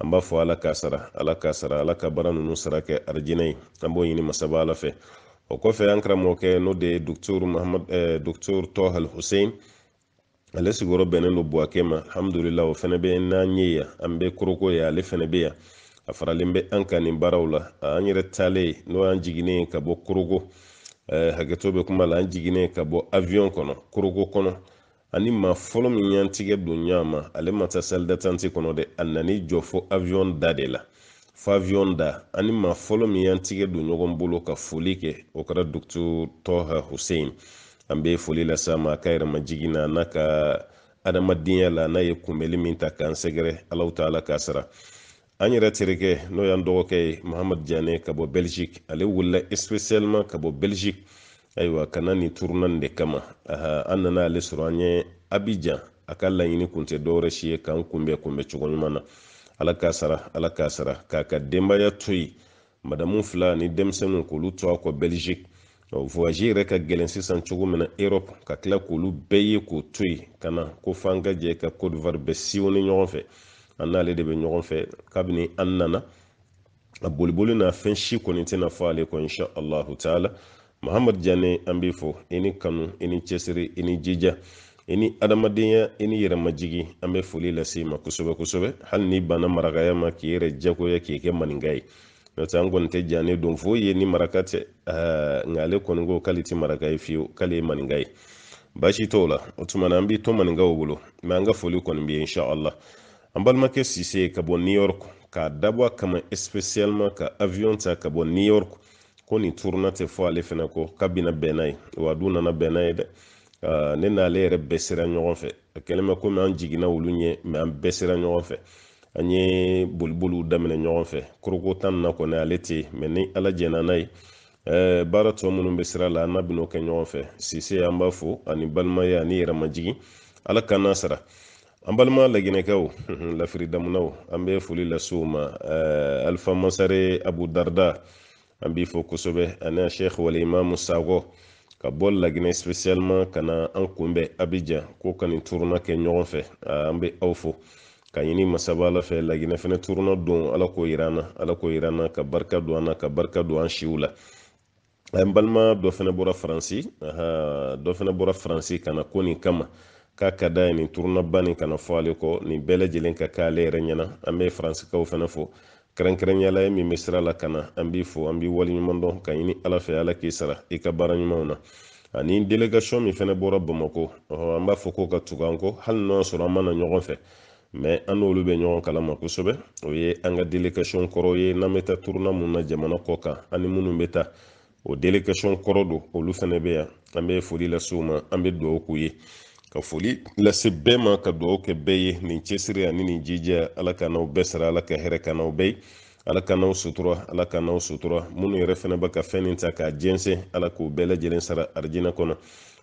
Speaker 1: an b'a fɔ ala k'a sara ala k'a sara ala ka baara ninnu sara kɛ arijinɛ ye an b'o ɲini masaba ala fɛ o kɔfɛ an karamɔgɔkɛ n'o de ye docteur mahamadu docteur tɔhali hussein ale sigiyɔrɔ bɛnnen don buwakɛ ma alhamdulila o fɛnɛ bɛ n'an ye yan an bɛ koroko yan ale fɛnɛ bɛ yan a faralen bɛ an kan nin baaraw la an yɛrɛ taalen n'o y'an jiginnen ka bɔ koroko eh, hakɛto bɛ kuma la an jiginnen ka bɔ avion kɔnɔ koroko kɔnɔ an ni maa fɔlɔ min y'an tigɛ don ɲɔgɔn ma ale ma taa salle d'attente kɔnɔ dɛ a nan'i jɔ fo avion da de la fo avion da an ni maa fɔlɔ min y'an tigɛ don ɲɔgɔn bolo ka foli kɛ o kɛra docteur tɔha hussein an bɛ foli las'a ma a ka yɛrɛmajigin na n'a ka adamadenya la n'a ye kunbɛli min ta k'an sɛgɛrɛ allahu taala k'a sara an yɛrɛ terikɛ n'o y'an dɔgɔkɛ ye mahamadu jane ka bɔ belgique ale wulila spécialement ka bɔ belgique ayiwa ka na nin tournée nin de kama an nana ale sɔrɔ an ɲɛ abijan a ka laɲini kun tɛ dɔwɛrɛ si ye k'an kunbɛ kunbɛ cogo ɲuman na ala k'a sara ala k'a sara k'a ka denbaya to yen madamu fila ni denmisɛnninw k'olu to a kɔ belgique voyage yɛrɛ ka gɛlɛn sisan cogo min na europe ka tila k'olu bɛɛ ye k'o to yen ka na ko f'an ka jɛ ka cote d'ivoire bɛɛ sillonner ɲɔgɔn fɛ an n'ale de bɛ ɲɔgɔn fɛ kabini an nana a boliboli n'a fɛn si kɔni tɛna fɔ ale kɔ insha allahu taala mahamadu jane an b'i fo i ni kanu i ni cɛsiri i ni jija i ni adamadenya i ni yɛrɛmajigi an bɛ foli lase i ma kosɛbɛ kosɛbɛ hali n'i banna marakaya ma k'i yɛrɛ jagoya k'i kɛ maninka ye n'o tɛ an kɔni tɛ jane dɔn foyi ye ni maraka tɛ nka ale kɔni ko k'ale tɛ maraka ye fiyewu k'ale ye maninka ye baasi t'o la o tuma na an b'i to maninkaw bolo mais an ka foli kɔni bɛ yen inshallah an balimakɛ sise ka bɔ new york k'a dabɔ a kama spécialement ka avion ta ka bɔ new york ko nin turuna tɛ fɔ ale fɛnɛ kɔ k'a bɛna bɛn n'a ye wa a dun nana bɛn n'a ye dɛ ne n'ale yɛrɛ bɛɛ sera ɲɔgɔn fɛ a kɛlen bɛ komi an jiginna olu ɲɛ mɛ an bɛɛ sera ɲɔgɔn fɛ an ye boliboliw daminɛ ɲɔgɔn fɛ korogo tan na kɔni ale tɛ yen mɛ ni ala jɛnna n'a ye baara tɔ minnu bɛ sira la an n'a bɛn'o kɛ ɲɔgɔn fɛ sise an b'a fo ani balimaya ani yɛrɛmajigin ala k'an n'a sara an balima laginɛkɛw lafiri damunaw an bɛ foli lase u ma eh, alifa masare abu darda an b'i fo kosɛbɛ ani a sheikh wal imamu sakɔ ka bɔ laginɛ spécialement ka na an kunbɛn abijan ko ka nin turuna kɛ ɲɔgɔn fɛ ah, an bɛ aw fo ka ɲini masaba ala fɛ laginɛ fɛnɛ turuna don ala k'o yira an na ala k'o yira an na ka barika don an na ka barika don an siw la an balima dɔ fɛnɛ bɔra faransi dɔ fɛnɛ bɔra faransi ka na ko nin kama k'a ka d'a ye nin turunaba nin kana fɔ ale kɔ nin bɛɛ lajɛlen ka kɛ ale yɛrɛ ɲɛna an bɛ faransikaw fana fo kɛrɛnkɛrɛnyala ye min bɛ sira la ka na an b'i fo an b'i waleɲuman dɔn ka ɲini ala fɛ ala k'i sara i ka baara ɲumanw na ani delegation min fɛnɛ bɔra bamakɔ an b'a fɔ k'o ka tugu an kɔ hali n'o y'a sɔrɔ an ma na ɲɔgɔn fɛ mɛ an n'olu bɛ ɲɔgɔn kalama kosɛbɛ o ye an ka delegation kɔrɔ ye n'an bɛ taa turuna mun na jamana kɔ kan an ni minnu bɛ taa o delegation kɔrɔ don olu fana bɛ yan an bɛ foli lase u ma an bɛ dugawu k'u ye ka foli lase bɛɛ ma ka dugawu kɛ bɛɛ ye nin cɛsiri ani nin jija ala k'an n'aw bɛɛ sara ala ka hɛrɛ k'an n'aw bɛɛ ye ala k'an n'aw sutura ala k'an n'aw sutura minnu yɛrɛ fɛnɛ bɛ ka fɛn nin ta k'a jɛnsɛn ala k'u bɛɛ lajɛlen sara arijinɛ kɔnɔ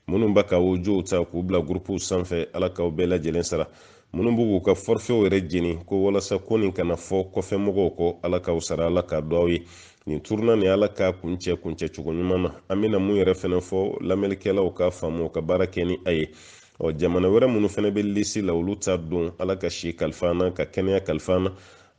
Speaker 1: minnu bɛ ka audiow ta k'u bila gurupuw sanfɛ ala k'aw bɛɛ lajɛlen sara minnu b'u k'u ka fɔrifɛw yɛrɛ jeni ko walasa ko nin kana fɔ kɔfɛ mɔgɔw kɔ ala k'aw sara ala k'a dɔn aw ye nin turuna nin ala k'a kuncɛ kuncɛ cogo ɲuman na an bɛna mun yɛrɛ fɛnɛ fɔ lamɛnlikɛlaw k'a faamu ka baara kɛ ni a ye ɔ jamana wɛrɛ minnu fɛnɛ bɛ lisi la olu ta don ala ka si kalif'an na ka kɛnɛya kalif'an na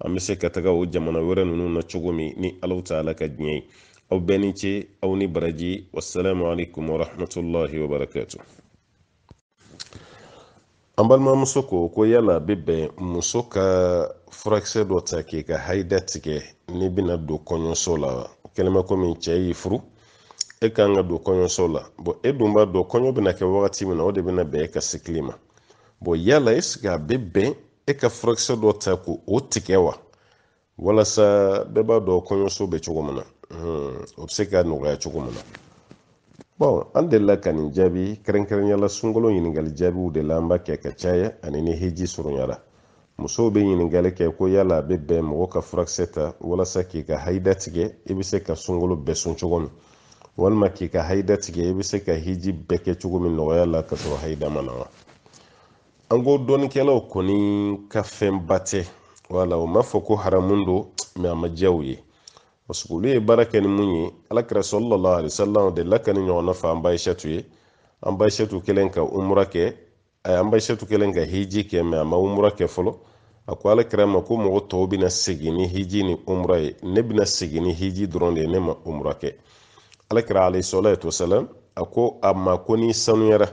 Speaker 1: an bɛ se ka taga o jamana wɛrɛ ninnu na cogo min ni ala taala ka diɲɛ ye aw bɛɛ ni ce aw ni baraji wasalaamu alaikum wa rahmatulahi wa barakatu an balimamuso ko ko yala a bɛ bɛn muso ka furakisɛ dɔ ta k'i ka haida tigɛ n'i bɛna don kɔɲɔso la wa kɛlen bɛ komi cɛ y'i furu e kan ka don kɔɲɔso la bɔn e dun b'a dɔn kɔɲɔ bɛna kɛ wagati min na o de bɛna bɛn e ka sikili ma bɔn yala est-ce que a bɛ bɛn e ka furakisɛ dɔ ta k'o tigɛ wa walasa bɛɛ b'a dɔn kɔɲɔso bɛ cogo min na hmm, o bɛ se ka nɔgɔya cogo min na bɔn an delila ka nin jaabi kɛrɛnkɛrɛnyala sunkalo ɲininkali jaabiw de la an b'a kɛ ka caya ani ni heji surunyara musow bɛ ɲininkali kɛ ko yala a bɛ bɛn mɔgɔ ka furakisɛ ta walasa k'i ka hayida tigɛ i bɛ se ka sunkalo bɛɛ sun cogo min walima k'i ka hayida tigɛ i bɛ se ka heji bɛɛ kɛ cogo min nɔgɔya la ka sɔrɔ hayida ma na wa an ko dɔnnikɛlaw kɔni k'a fɛnba tɛ wala u m'a fɔ ko haramu don mɛ a ma diya u ye parce que olu ye baara kɛ ni mun ye alakira salalahu alayihi wasalam delila ka nin ɲɔgɔnna fɔ an ba ayisatu ye an ba ayisatu kɛlen ka umura kɛ a an ba ayisatu kɛlen ka hiji kɛ mɛ a ma umura kɛ fɔlɔ a ko alakira ma ko mɔgɔ tɔw bɛna segin ni hiji ni umura ye ne bɛna segin ni hiji dɔrɔn de ye ne ma umura kɛ alakira alayihi salatu wasalam a ko a ma ko n'i sanuyara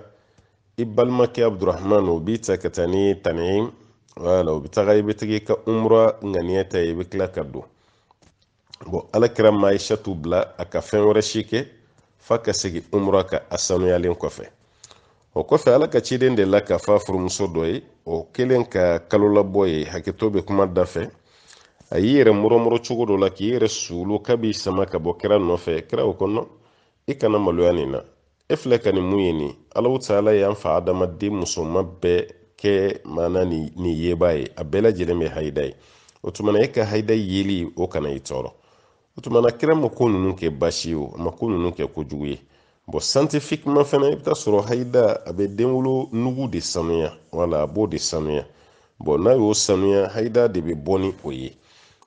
Speaker 1: i balimakɛ abdurahman o b'i ta ka taa ni tanim ye wala o bɛ taga i bɛ tugu ka umra ŋaniya ta i bɛ tila ka don bɔn alakira ma aishatu bila a ka fɛn wɛrɛ si kɛ f'a ka segin umra kan a sanuyalen kɔfɛ o kɔfɛ ala ka ciden delila ka f'a furumuso dɔ ye o kɛlen ka kalolabɔ ye hakɛto bɛ kuma da fɛ a y'i yɛrɛ murɔmurɔ cogo dɔ la k'i yɛrɛ suulu k'a b'i sama ka bɔ kira nɔfɛ kira o ko nɔn i kana maloya nin na e filɛ ka nin min ye nin alahu taala y'an fa adama denmusoman bɛɛ kɛ maana nin yebaa ye a bɛɛ lajɛlen bɛ hayida ye o tuma na e ka hayida yeli o kana i tɔɔrɔ o tuma na kira ma ko ninnu kɛ baasi ye o a ma ko ninnu kɛ kojugu ye bɔn santifikima fana i bɛ taa sɔrɔ hayida a bɛ denwolonugu de sanuya wala a b'o de sanuya bɔn n'a y'o sanuya hayida de bɛ bɔ ni o ye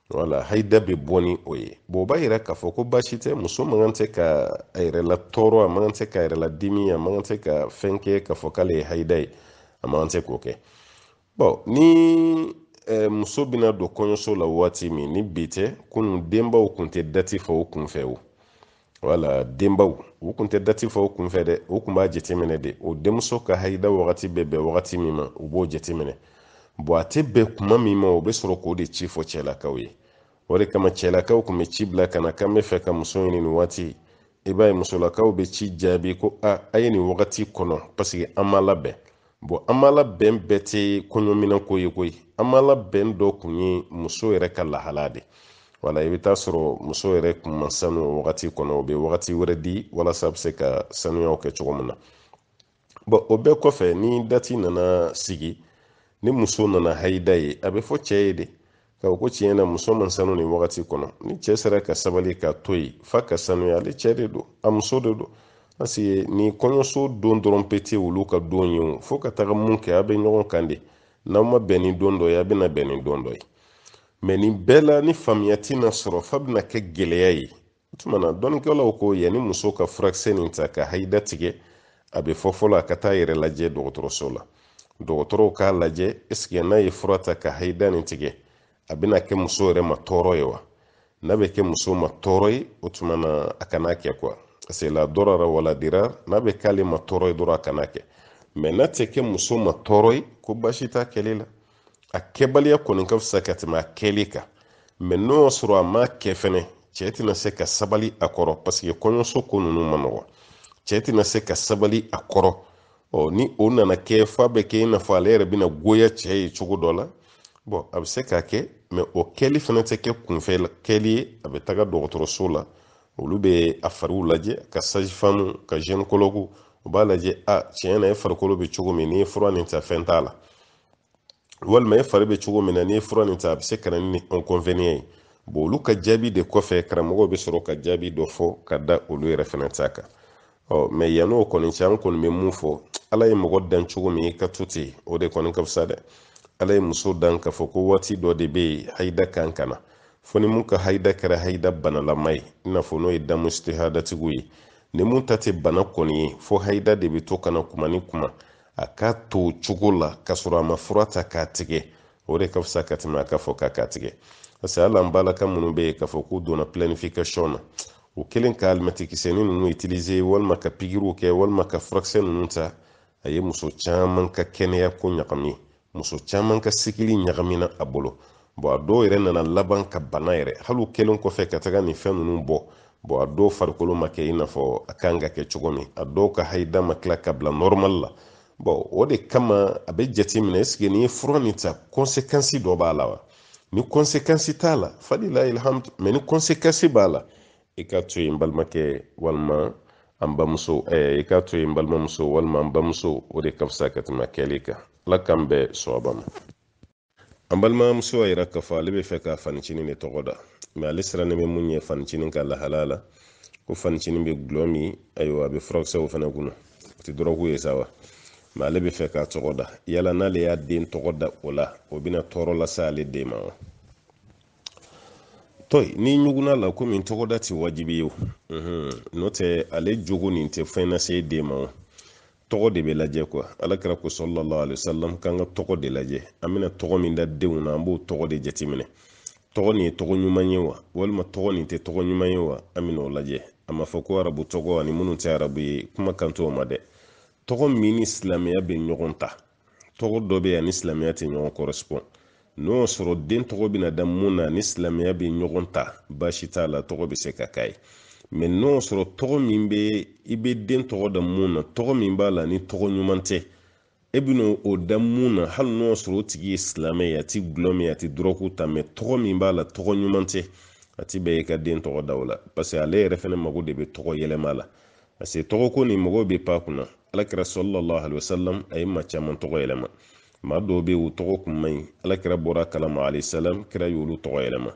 Speaker 1: wala hayida bɛ bɔ ni o ye bɔn o b'a yira k'a fɔ ko baasi tɛ muso man kan tɛ ka a yɛrɛ latɔɔrɔ a man kan tɛ ka a yɛrɛ ladimi a man kan tɛ ka fɛn kɛ k'a fɔ k'ale ye hayida ye a man kan tɛ k'o kɛ bɔn ni eh, muso bɛna don kɔɲɔso la waati min ni bi tɛ kunun denbaw kun tɛ dati fɔ o kunfɛ o wala denbaw u kun tɛ dati fɔ u kunfɛ dɛ u kun b'a jateminɛ de u denmuso ka hayida wagati bɛ bɛn wagati min ma u b'o jateminɛ bɔn a tɛ bɛn kuma min ma o bɛ sɔrɔ k'o de ci fɔ cɛlakaw ye o de kama cɛlakaw kun bɛ ci bila ka na k'an bɛ fɛ ka muso ɲini nin waati i b'a ye musolakaw bɛ ci jaabi ko a a ye nin wagati kɔnɔ paseke an ma labɛn bɔn an ma labɛn bɛɛ tɛ kɔɲɔminɛn ko ye koyi an ma labɛn dɔ kun ye muso yɛrɛ ka lahala de wala i bɛ taa sɔrɔ muso yɛrɛ kun ma sanu o wagati kɔnɔ u bɛ wagati wɛrɛ di walasa a bɛ se ka sanuyaw kɛ cogo min na bɔn o bɛɛ kɔfɛ ni dati nana sigi ni muso nana hayida ye a bɛ fɔ cɛ ye de ka ko tiɲɛ na muso ma sanu nin wagati kɔnɔ ni cɛ sera ka sabali ka to yen f'a ka sanuya ale cɛ de don a muso de don parce que ni kɔɲɔso don dɔrɔn pe tɛ olu ka don ye o fo ka taga mun kɛ a bɛ ɲɔgɔn kan de n'aw ma bɛn ni don dɔ ye a bɛna bɛn ni don dɔ ye mɛ nin bɛɛ la ni faamuya tɛna sɔrɔ f'a bɛna kɛ gɛlɛya ye o tuma na dɔnnikɛlaw ko yanni muso ka furakisɛ nin ta ka hayida tigɛ a bɛ fɔ fɔlɔ a ka taa yɛrɛ lajɛ dɔgɔtɔrɔso la dɔgɔtɔrɔw k'a lajɛ est-ce que n'a ye fura ta ka hayida nin tigɛ a bɛna kɛ muso yɛrɛ ma tɔɔrɔ ye wa n'a bɛ kɛ muso ma tɔɔrɔ ye o tuma na a kana kɛ quoi parce que la darara wala dirar n'a bɛ k'ale ma tɔɔrɔ ye dɔrɔn a kana kɛ mais n'a tɛ kɛ muso ma tɔɔrɔ ye ko baasi t'a kɛli la a kɛbaliya kɔni ka fisa ka tɛmɛ a kɛli kan mais n'o y'a sɔrɔ a m'a kɛ fɛnɛ cɛ tɛna se ka sabali a kɔrɔ parce que kɔɲɔso ko ninnu ma nɔgɔ cɛ tɛna se ka sabali a kɔrɔ ɔ ni o nana kɛ f'a bɛ kɛ i n'a fɔ ale yɛrɛ bɛna goya cɛ ye cogo dɔ la bon a bɛ se k'a kɛ mais o kɛli fana tɛ kɛ kunfɛ kɛli ye a bɛ taga dɔgɔtɔrɔso la olu bɛ a fariw lajɛ ka sage-femme ka gynécologue u b'a lajɛ a tiɲɛ na e farikolo bɛ cogo min n'i ye fura nin ta fɛn t'a la walima e fari bɛ cogo min na n'i ye fura nin ta a bɛ se ka na ni inconvénient ye bon olu ka jaabi de kɔfɛ karamɔgɔw bɛ sɔrɔ ka jaabi dɔ fɔ ka da olu yɛrɛ fana ta kan ɔ mais yann'o kɔni cɛ an kɔni bɛ mun fɔ ala ye mɔgɔ dan cogo min i ka to ten o de kɔni ka fisa dɛ ala ye muso dan k'a fɔ ko waati dɔ de bɛ yen hayida kan ka na fo ni mun ka hayida kɛra hayida banalama ye i n'a fɔ n'o ye damu istihadatigiw ye ni mun ta tɛ bana kɔni ye fo hayida de bɛ to ka na kuma ni kuma a ka to cogo la ka sɔrɔ a ma fura ta k'a tigɛ o de ka fisa ka tɛmɛ a ka fɔ k'a k'a tigɛ parce que hali an balaka minnu bɛ yen k'a fɔ k'u donna planification na u kɛlen ka alimɛtikisɛni ninnu utiliser walima ka pikiriw kɛ walima ka furakisɛ ninnu ta a ye muso caman ka kɛnɛya ko ɲagami muso caman ka cycle ɲagamina a bolo bon a dɔw yɛrɛ nana laban ka bana yɛrɛ hali u kɛlen kɔfɛ ka taga nin fɛn ninnu bɔ bon a dɔw farikolo ma kɛ i n'a fɔ a kan ka kɛ cogo min a dɔw ka hayida ma tila ka bila normal la bon o de kama a bɛ jate minɛ est-ce que n'i ye fura nin ta conséquence dɔ b'a la wa ni conséquence t'a la falilahi alhamdu mais ni conséquence b'a la i ka to yen balimakɛ walima an bamuso i ka to yen balimamuso walima an bamuso o de ka fisa ka tɛmɛ kɛli kan ala k'an bɛn sawaba ma an balimamuso y'a yira k'a fɔ ale bɛ fɛ ka fanicinin de tɔgɔ da mais ale sirannen bɛ mun ye fanicinin ka lahalaya la ko fanicinin bɛ gulɔ min ayiwa a bɛ furakisɛw fana kunna o tɛ dɔrɔgu ye sa wa mais ale bɛ fɛ k'a tɔgɔ da yala n'ale y'a den tɔgɔ da o la o bɛna tɔɔrɔ lase ale den ma wa to yen n'i ɲugunn'a la komi tɔgɔda tɛ wajibi ye o n'o tɛ ale jogo nin tɛ fɛn lase den ma o tɔgɔ de bɛ lajɛ quoi alakira ko sallallahu alaihi wasallam k'an ka tɔgɔ de lajɛ an bɛna tɔgɔ min da denw na an b'o tɔgɔ de jateminɛ tɔgɔ nin ye tɔgɔ ɲuman ye wa walima tɔgɔ nin tɛ tɔgɔ ɲuman ye wa an bɛn'o lajɛ a ma fɔ ko arabu tɔgɔ ani minnu tɛ arabu ye kuma kan t'o ma dɛ tɔgɔ min ni silamɛya bɛ ɲɔgɔn ta tɔgɔ dɔ bɛ yen a ni silamɛya tɛ ɲɔgɔn korɛsipɔn n'o y'a sɔrɔ den tɔgɔ bɛna da mun na ni silamɛya bɛ ɲɔgɔn ta baasi t'a la tɔgɔ bɛ se ka k'a ye mɛ n'o y'a sɔrɔ tɔgɔ min bɛ i bɛ den tɔgɔ da mun na tɔgɔ min b'a la ni tɔgɔ ɲuman tɛ e bɛna o da mun na hali n'o y'a sɔrɔ o tigi ye silamɛ ye a ti gulɔ min a ti dɔrɔgu ta mɛ tɔgɔ min b'a la tɔgɔ ɲuman tɛ a ti bɛn i ka den tɔgɔ da o la paseke ale yɛrɛ fana mago de bɛ tɔgɔ yɛlɛma la parce que tɔgɔ ko nin mɔgɔw bɛ pan kunna alakira salalahu alayhi wasalam a ye maa caman tɔgɔ yɛlɛma maa dɔw bɛ yen u tɔgɔ kun man ɲi alakira bɔra kalama alayisalaam kira y'olu tɔgɔ yɛlɛma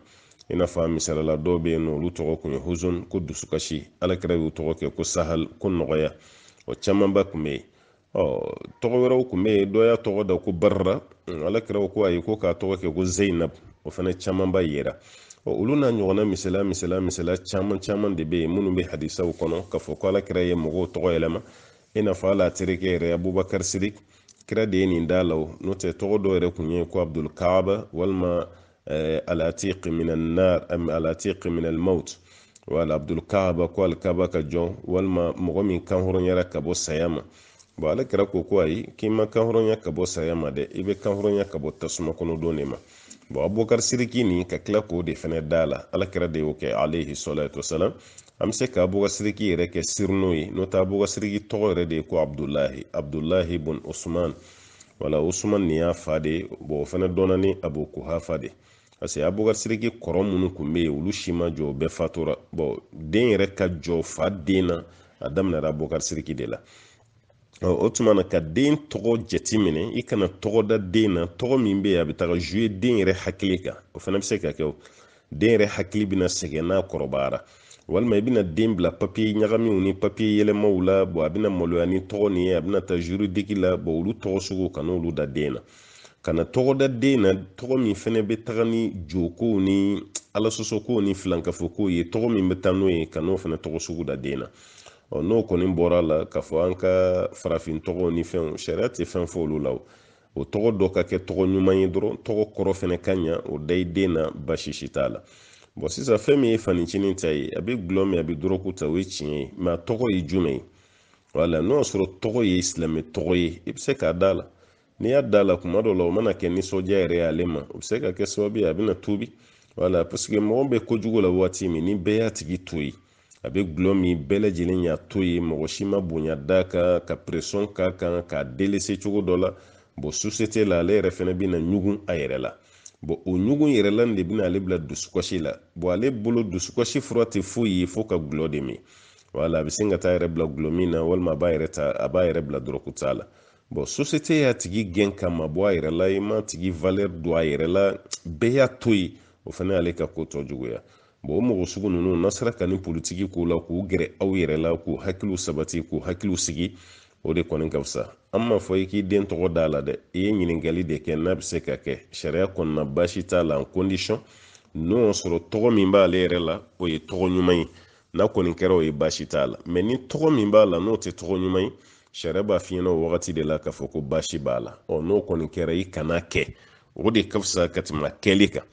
Speaker 1: i n'a fɔ a misala la dɔw bɛ yen n'olu tɔgɔ kun ye huzun ko dusukasi alakira y'u tɔgɔ kɛ ko sahal ko nɔgɔya o camanba kun bɛ yen ɔ tɔgɔ wɛrɛw kun bɛ yen dɔ y'a tɔgɔ da ko barra ala kira ko ayi ko k'a tɔgɔ kɛ ko zeyinab o fana camanba yera ɔ olu n'a ɲɔgɔnna misala misala misala caman caman de bɛ yen minnu bɛ hadisaw kɔnɔ k'a fɔ ko ala kira ye mɔgɔw tɔgɔ yɛlɛma i n'a fɔ a la terikɛ yɛrɛ abubakar sirik kira de ye nin da la o n'o tɛ tɔgɔ dɔ yɛrɛ kun ye ko abdul kaaba walima eh, alatiq min annar am alatiq min almaut wala abdul kaaba ko alkaba ka jɔn walima mɔgɔ min kanhɔrɔnyara ka bɔ saya ma bɔn alakira ko ko ayi k'i ma kanhɔrɔnya ka bɔ saya ma dɛ i bɛ kanhɔrɔnya ka bɔ tasuma kɔnɔ don de ma bɔn abubakar siriki nin ka tila k'o de fɛnɛ da la alakira de y'o kɛ alayhi salatu wasalam an bɛ se ka abubakar siriki yɛrɛ kɛ surnom ye n'o tɛ abubakar siriki tɔgɔ yɛrɛ de ye ko abdulahi abdulahi bun usman wala usman nin y'a fa de bɔn o fana dɔnna ni abu kuhafa de parce que abubakar siriki kɔrɔ minnu kun bɛ yen olu si ma jɔ o bɛɛ fatura bɔn den yɛrɛ ka jɔ fa den na a daminɛra abubakar siriki de la o tuma na ka den tɔgɔ jate minɛ i kana tɔgɔ da den na tɔgɔ min bɛ yen a bɛ taga zuye den yɛrɛ hakili kan o fana bɛ se ka kɛ den yɛrɛ hakili bɛna sɛgɛn n'a kɔrɔbayara walima i bɛna den bila papiye ɲagamiw ni papiye yɛlɛmaw la bɔn a bɛna maloya ni tɔgɔ nin ye a bɛna taa juridiki la bɔn olu tɔgɔ sugu kan'olu da den na kana tɔgɔ da den na tɔgɔ min fɛnɛ bɛ taga ni jokow ni alasɔsɔkow ni filankafokow ye tɔgɔ min bɛ taa n'o ye kan'o fɛnɛ tɔgɔ sugu da den na ɔ n'o kɔni bɔra la k'a fɔ an ka farafin tɔgɔw ni fɛnw sariya tɛ fɛn fɔ olu la o o tɔgɔ dɔ ka kɛ tɔgɔ ɲuman ye dɔrɔn tɔgɔ kɔrɔ fɛnɛ ka ɲa o da i den na baasi si t'a la bɔn sisan fɛn min ye fanicinin ta ye a be gulɔ min a be dɔrɔgu ta o ye tiɲɛ ye mɛ a tɔgɔ ye jumɛn ye wala n'o y'a sɔrɔ tɔgɔ ye silamɛ tɔgɔ ye i be se k'a da la n'i y'a da la kuma dɔ la o mana kɛ nisɔndiya yɛrɛ y'ale ma o be se ka kɛ sababu ye a bena tuubi wala paseke mɔgɔ be kojugu la waati min ni bɛɛ y'a tigi to yen a bɛ gulɔ min bɛɛ lajɛlen y'a to yen mɔgɔ si ma bonya d'a kan ka presɔn k'a kan k'a delese cogo dɔ la bɔn sosete la ale yɛrɛ fana bɛna ɲugun a yɛrɛ la bɔn o ɲugun yɛrɛ la de bɛna ale bila dusukasi la bɔn ale bolo dusukasi fura tɛ foyi ye fo ka gulɔ de min wala a bɛ sin ka t'a yɛrɛ bila gulɔ min na walima a b'a yɛrɛ ta a b'a yɛrɛ bila dɔrɔgu ta la bɔn sosete y'a tigi gɛn k'a mabɔ a yɛrɛ la i m'a tigi valɛri dɔn a yɛrɛ la bɛɛ y'a to yen o fana y'ale ka ko tɔ juguya bon o mɔgɔ sugu ninnu n'a sera ka nin politiki k'o la k'u gɛrɛ aw yɛrɛ la k'u hakiliw sabati k'u hakiliw sigi o de kɔni ka fisa an m'a fɔ i k'i den tɔgɔ d'a la dɛ i ye ɲininkali de kɛ n'a bɛ se ka kɛ sariya kɔnɔna baasi t'a la kondisɔn n'o y'a sɔrɔ tɔgɔ min b'ale yɛrɛ la o ye tɔgɔ ɲuman ye n'a kɔni kɛra o ye baasi t'a la mɛ ni tɔgɔ min b'a la n'o tɛ tɔgɔ ɲuman ye sariya b'a f'i ɲɛna o wagati de la k'a fɔ ko baasi b'a la ɔ n'o kɔni kɛra i kan'a kɛ o de ka fisa ka tɛmɛ kɛli kan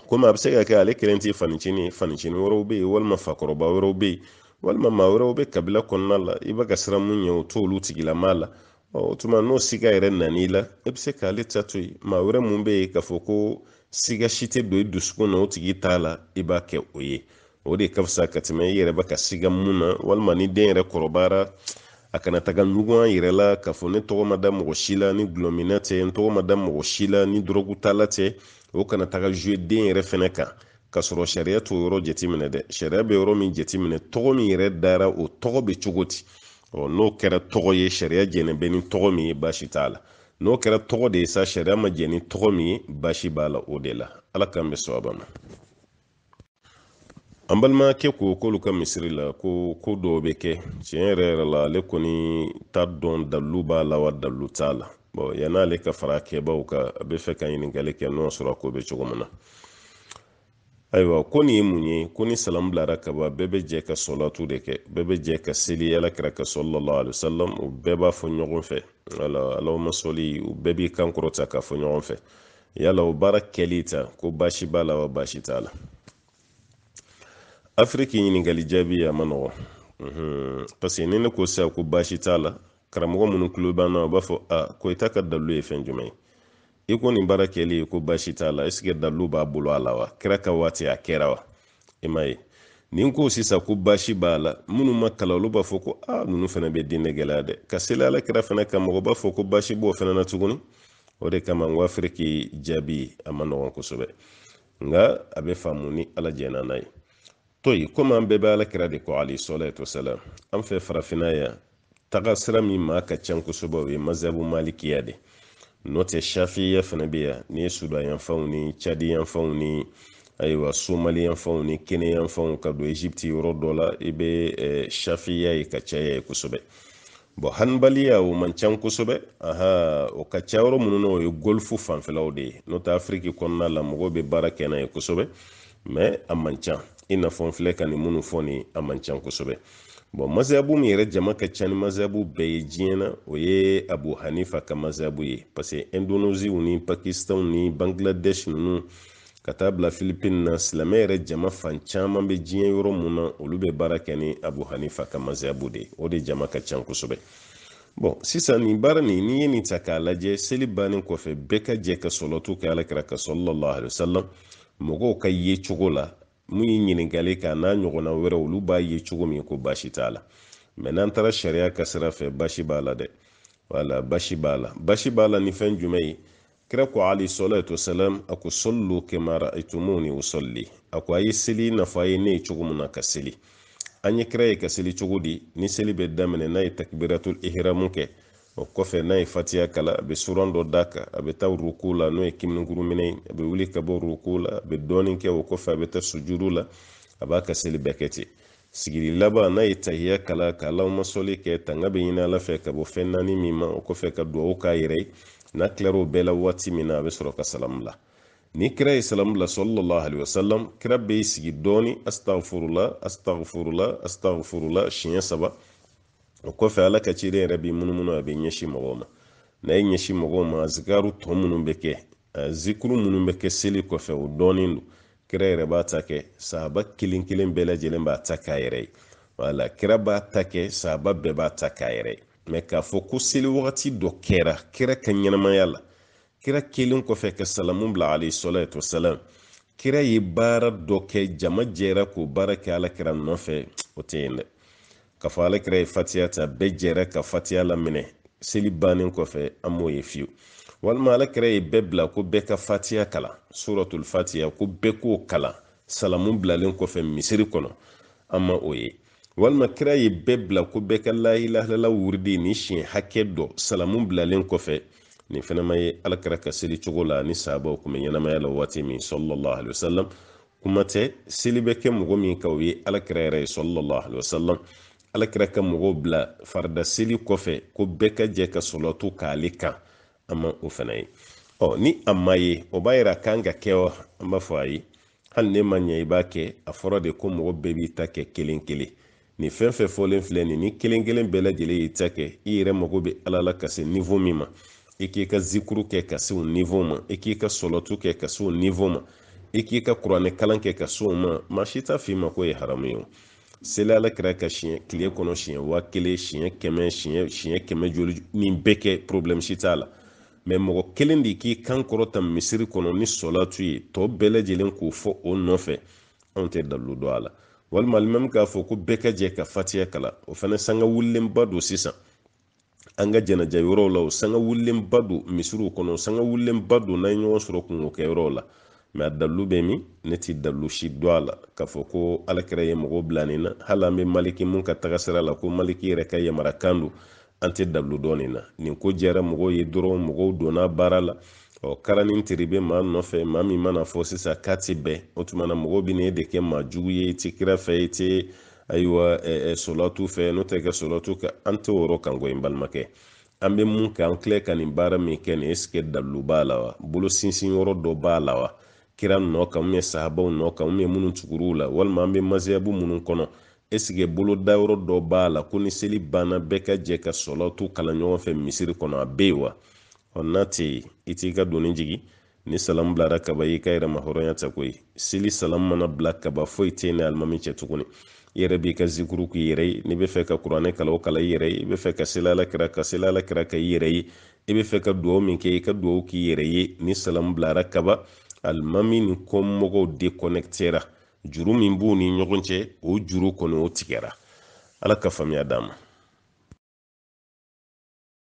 Speaker 1: komi a bɛ se ka kɛ ale kelen tɛ fancinin ye fancinin wɛrɛw bɛ yen walima fakɔrɔba wɛrɛw bɛ yen walima maa wɛrɛw bɛ kabila kɔnɔna la i bɛ ka siran mun ɲɛ o t'olu tigilama la o tuma n'o siga yɛrɛ nan'i la i bɛ se k'ale ta to yen maa wɛrɛ mun bɛ yen k'a fɔ ko siga si tɛ don i dusukun na o tigi ta la i b'a kɛ o ye o de ka fisa ka tɛmɛ i yɛrɛ bɛ ka siga mun na walima ni den yɛrɛ kɔrɔbayara a kana taga ɲugun a yɛrɛ la k'a fɔ ne tɔgɔ ma da mɔgɔ si la ni gulɔminna tɛ n tɔgɔ ma da mɔgɔ si la ni dɔrɔgu tala tɛ o kana taga zuwe den yɛrɛ fɛnɛ kan k'a sɔrɔ sariya t'o yɔrɔ jateminɛ dɛ sariya bɛ yɔrɔ min jateminɛ tɔgɔ min yɛrɛ dara o tɔgɔ bɛ cogo di ɔ n'o kɛra tɔgɔ ye sariya jɛnnen bɛ ni tɔgɔ min ye baasi t'a la n'o kɛra tɔgɔ de ye sa sariya ma jɛn ni tɔgɔ min ye baasi b'a la o de la ala k'an bɛn sawaba ma an balimakɛ ko k'olu ka misiri la ko ko dɔw bɛ kɛ tiɲɛ yɛrɛ yɛrɛ la ale kɔni t'a dɔn dalilu b'a la wa dalilu t'a la bɔn yan'ale ka fara kɛbaw kan a bɛ fɛ ka ɲininkali kɛ n'o sɔrɔ a ko bɛ cogo min na ayiwa ko nin ye mun ye ko ni salamu bilara ka ban bɛɛ bɛ jɛ ka sɔlatu de kɛ bɛɛ bɛ jɛ ka seli ala kira kan sallallahu alayhi wasalam u bɛɛ b'a fɔ ɲɔgɔn fɛ allahumma sɔli u bɛɛ b'i kan kɔrɔta k'a fɔ ɲɔgɔn fɛ yala o baara kɛli ta ko baasi b'a la wa baasi t'a la afiriki ɲininkali jaabi a man nɔgɔn parce que ni ne ko sisan ko baasi t'a la karamɔgɔ minnu tulo b'an na u b'a fɔ a ko i ta ka dalilu ye fɛn jumɛn ye i ko nin baara kɛli ko baasi t'a la ɛsike dalilu b'a bolo a la wa kira ka waati a kɛra wa i m'a ye ni n ko sisan ko baasi b'a la minnu ma kalan olu b'a fɔ ko ah, ninnu fana bɛ diinɛ gɛlɛya dɛ ka seli ala kira fana kan mɔgɔ b'a fɔ ko baasi b'o fana na tuguni o de kama n ko afiriki jaabi a man nɔgɔn kosɛbɛ nka a bɛ faamu ni ala jɛnna n'a ye to yen komi an bɛɛ bɛ ala kira de kɔ alayhi salatu wasalam an fɛ farafinna yan taga sira min maa ka ca kosɛbɛ o ye mazabu malikiya de n'o tɛ shafiya fana bɛ yan ni sudan yanfanw ni cadi yanfanw ni ayiwa somali yanfanw ni kenya yanfanw ka don egypte yɔrɔ dɔ la i bɛ eh, shafiya ye ka caya yen kosɛbɛ bɔn hanbaliya o man ca kosɛbɛ aha o ka ca yɔrɔ minnu na o ye golfu fanfɛlaw de ye n'o tɛ afiriki kɔnɔna la mɔgɔw bɛ baara kɛ n'a ye kosɛbɛ mɛ a man ca i n'a fɔ n filɛ ka nin minnu fɔ nin a man ca kosɛbɛ bɔn mazabu min yɛrɛ jama ka ca ni mazabu bɛɛ ye diɲɛ na o ye abu hanifa ka mazabu ye parce que indoneziw ni pakistanw ni bangladesh ninnu ka taa bila filipine na silamɛ yɛrɛ jama fan caman bɛ diɲɛ yɔrɔ mun na olu bɛ baara kɛ ni abu hanifa ka mazabu de ye o de jama ka ca kosɛbɛ bɔn sisan nin baara nin n'i ye nin ta k'a lajɛ seli bannen kɔfɛ bɛɛ ka jɛ ka sɔlɔtu kɛ alakira kan sallallahu alaihi wasallam mɔgɔw ka yecogo la mun ye ɲininkali kɛ n'a ɲɔgɔnna wɛrɛ olu b'a ye cogo min ko baasi t'a la mɛ n'an taara sariya ka sira fɛ baasi b'a la dɛ wala baasi b'a la baasi b'a la ni fɛn jumɛn ye kira ko alayhi salatu wasalam a ko sallu kama ra'aytumuni usalli a ko a ye seli n'a fɔ a ye ne ye cogo min na ka seli an ye kira ye ka seli cogo di ni seli bɛ daminɛ n'a ye takbiratul ihramu kɛ o kɔfɛ n'a ye fatiya kalan a bɛ suran dɔ d'a kan a bɛ taa ruku la n'o ye kunberekuru minɛ ye a bɛ wuli ka bɔ ruku la a bɛ dɔɔnin kɛ o kɔfɛ a bɛ taa sujudu la a b'a ka seli bɛɛ kɛ ten sigili laban n'a ye tahiya kalan ka allahumma sɔli kɛ tanga bɛ ɲini ala fɛ ka bɔ fɛn naani min ma o kɔfɛ ka duwawu k'a yɛrɛ ye n'a tilar'o bɛɛ la waati min na a bɛ sɔrɔ ka salamu bila ni kira ye salamu bila sallallahu alayhi wa salam kira bɛ sigi dɔɔni astagfurula astagfurula astagfurula siɲɛ saba o kɔfɛ ala ka ciden yɛrɛ b'i munumunu a bɛ ɲɛsin mɔgɔw ma n'a ye ɲɛsin mɔgɔw ma azikaru tɔ minnu bɛ kɛ zikuru minnu bɛ kɛ seli kɔfɛ o dɔnnen don kira yɛrɛ b'a ta kɛ sahaba kelen kelen bɛɛ lajɛlen b'a ta k'a yɛrɛ ye wala kira b'a ta kɛ sahaba bɛɛ b'a ta k'a yɛrɛ ye mɛ k'a fɔ ko seli wagati dɔ kɛra kira ka ɲɛnamaya la kira kɛlen kɔfɛ ka salamu bila alayhi salatu wasalam kira ye baara dɔ kɛ jama jɛra k'o baara kɛ alakira nɔfɛ o tɛ yen dɛ k'a fɔ alakira ye fatiya ta bɛɛ jɛra ka fatiya laminɛ seli bannen kɔfɛ an m'o ye fiyewu walima alakira ye bɛɛ bila ko bɛɛ ka fatiya kalan suratul fatiya ko bɛɛ k'o kalan salamu bilalen kɔfɛ misiri kɔnɔ an ma o ye walima kira ye bɛɛ bila ko bɛɛ ka la ilaha illallah wuridi ni siɲɛ hakɛ dɔ salamu bilalen kɔfɛ nin fɛnɛ ma ye alakira ka seli cogo la ni sahabaw kun bɛ ɲɛnamaya la waati min sallallahu alaihi wasallam kuma tɛ seli bɛ kɛ mɔgɔ min kan o ye alakira yɛrɛ ye sallallahu alaihi wasallam alakira ka mɔgɔw bila farida seli kɔfɛ ko bɛɛ ka jɛ ka sɔlɔtu k'ale kan an ma o fana ye ɔ ni a ma ye o b'a yira k'an k'a kɛ wa an b'a fɔ ayi hali ne ma ɲɛ i b'a kɛ a fɔra de ko mɔgɔ bɛɛ b'i ta kɛ kelen kelen Nin fɛn fɛn fɔlen filɛ nin ni kelen kelen bɛɛ lajɛlen y'i ta kɛ i yɛrɛ mago bɛ ala la ka se nivo min ma i k'i ka zikuru kɛ ka se o nivo ma i k'i ka sɔlatu kɛ ka se o nivo ma i k'i ka kuranɛ kalan kɛ ka se o ma maa si t'a f'i ma k'o ye haramu ye o seli ala kira kan siɲɛ tile kɔnɔ siɲɛ waa kelen siɲɛ kɛmɛ siɲɛ siɲɛ kɛmɛ joli nin bɛɛ kɛ problème si t'a la mɛ mɔgɔ kelen de k'i kan kɔrɔta misiri kɔnɔ ni sɔlatu ye tɔ bɛɛ lajɛlen k'o fɔ o nɔfɛ anw tɛ dalilu dɔn a la walima alimami k'a fɔ ko bɛɛ ka jɛ ka fatiya kalan o fana sanga wulilenba don sisan an ka janaja yɔrɔw la o sanga wulilenba don misiriw kɔnɔ sanga wulilenba don n'an ye ɲɔgɔn sɔrɔ kunko kɛ yɔrɔw la mɛ a dalilu bɛ min ne ti dalilu si dɔn a la k'a fɔ ko alakira ye mɔgɔw bila nin na hali an bɛ maliki mun ka tagasira la ko maliki yɛrɛ ka yamarukan don an tɛ dalilu dɔn nin na nin ko diyara mɔgɔw ye dɔrɔn mɔgɔw donna baara la ɔ kara ni tere bɛ maa nɔfɛ maa min mana fɔ sisan k'a tɛ bɛn o tuma na mɔgɔw bɛ n'e de kɛ maa jugu ye i tɛ kira fɛ i tɛ ayiwa sɔlatu fɛ n'o tɛ kɛ sɔlatu kɛ an tɛ o kan koyi n balimakɛ an bɛ mun kɛ an filɛ ka nin baara min kɛ nin ɛsikɛ dalilu b'a la wa bolo sinsin yɔrɔ dɔ b'a la wa kira nɔ kan u ye sahabaw nɔ kan u ye minnu tugur'u la walima an bɛ maziyabu minnu kɔnɔ ɛsikɛ bolodayɔrɔ dɔ b'a la ko ni seli banna bɛɛ ka jɛ ka sɔlɔtu kalan ɲɔgɔn fɛ misiri kɔnɔ a bɛ yen wa ɔ n'a tɛ yen i t'i ka doni jigin ni salamu bilara kaba y'i ka yɛrɛmahɔrɔnya ta koyi seli salamu mana bila kaba foyi tɛ e ni alimami cɛ tuguni i yɛrɛ b'i ka zikuru k'i yɛrɛ ye n'i bɛ fɛ ka kuranɛ kalan o kalan i yɛrɛ ye i bɛ fɛ ka seli ala kira kan seli ala kira kan i yɛrɛ ye i bɛ fɛ ka dugawu min kɛ i ka dugawu k'i yɛrɛ ye ni salamu bilara kaba alimami ni kɔmɔgɔw dekɔnɛkitera juru min b'u ni ɲɔgɔn cɛ o juru kɔni o tigɛra ala ka faamuya d'an ma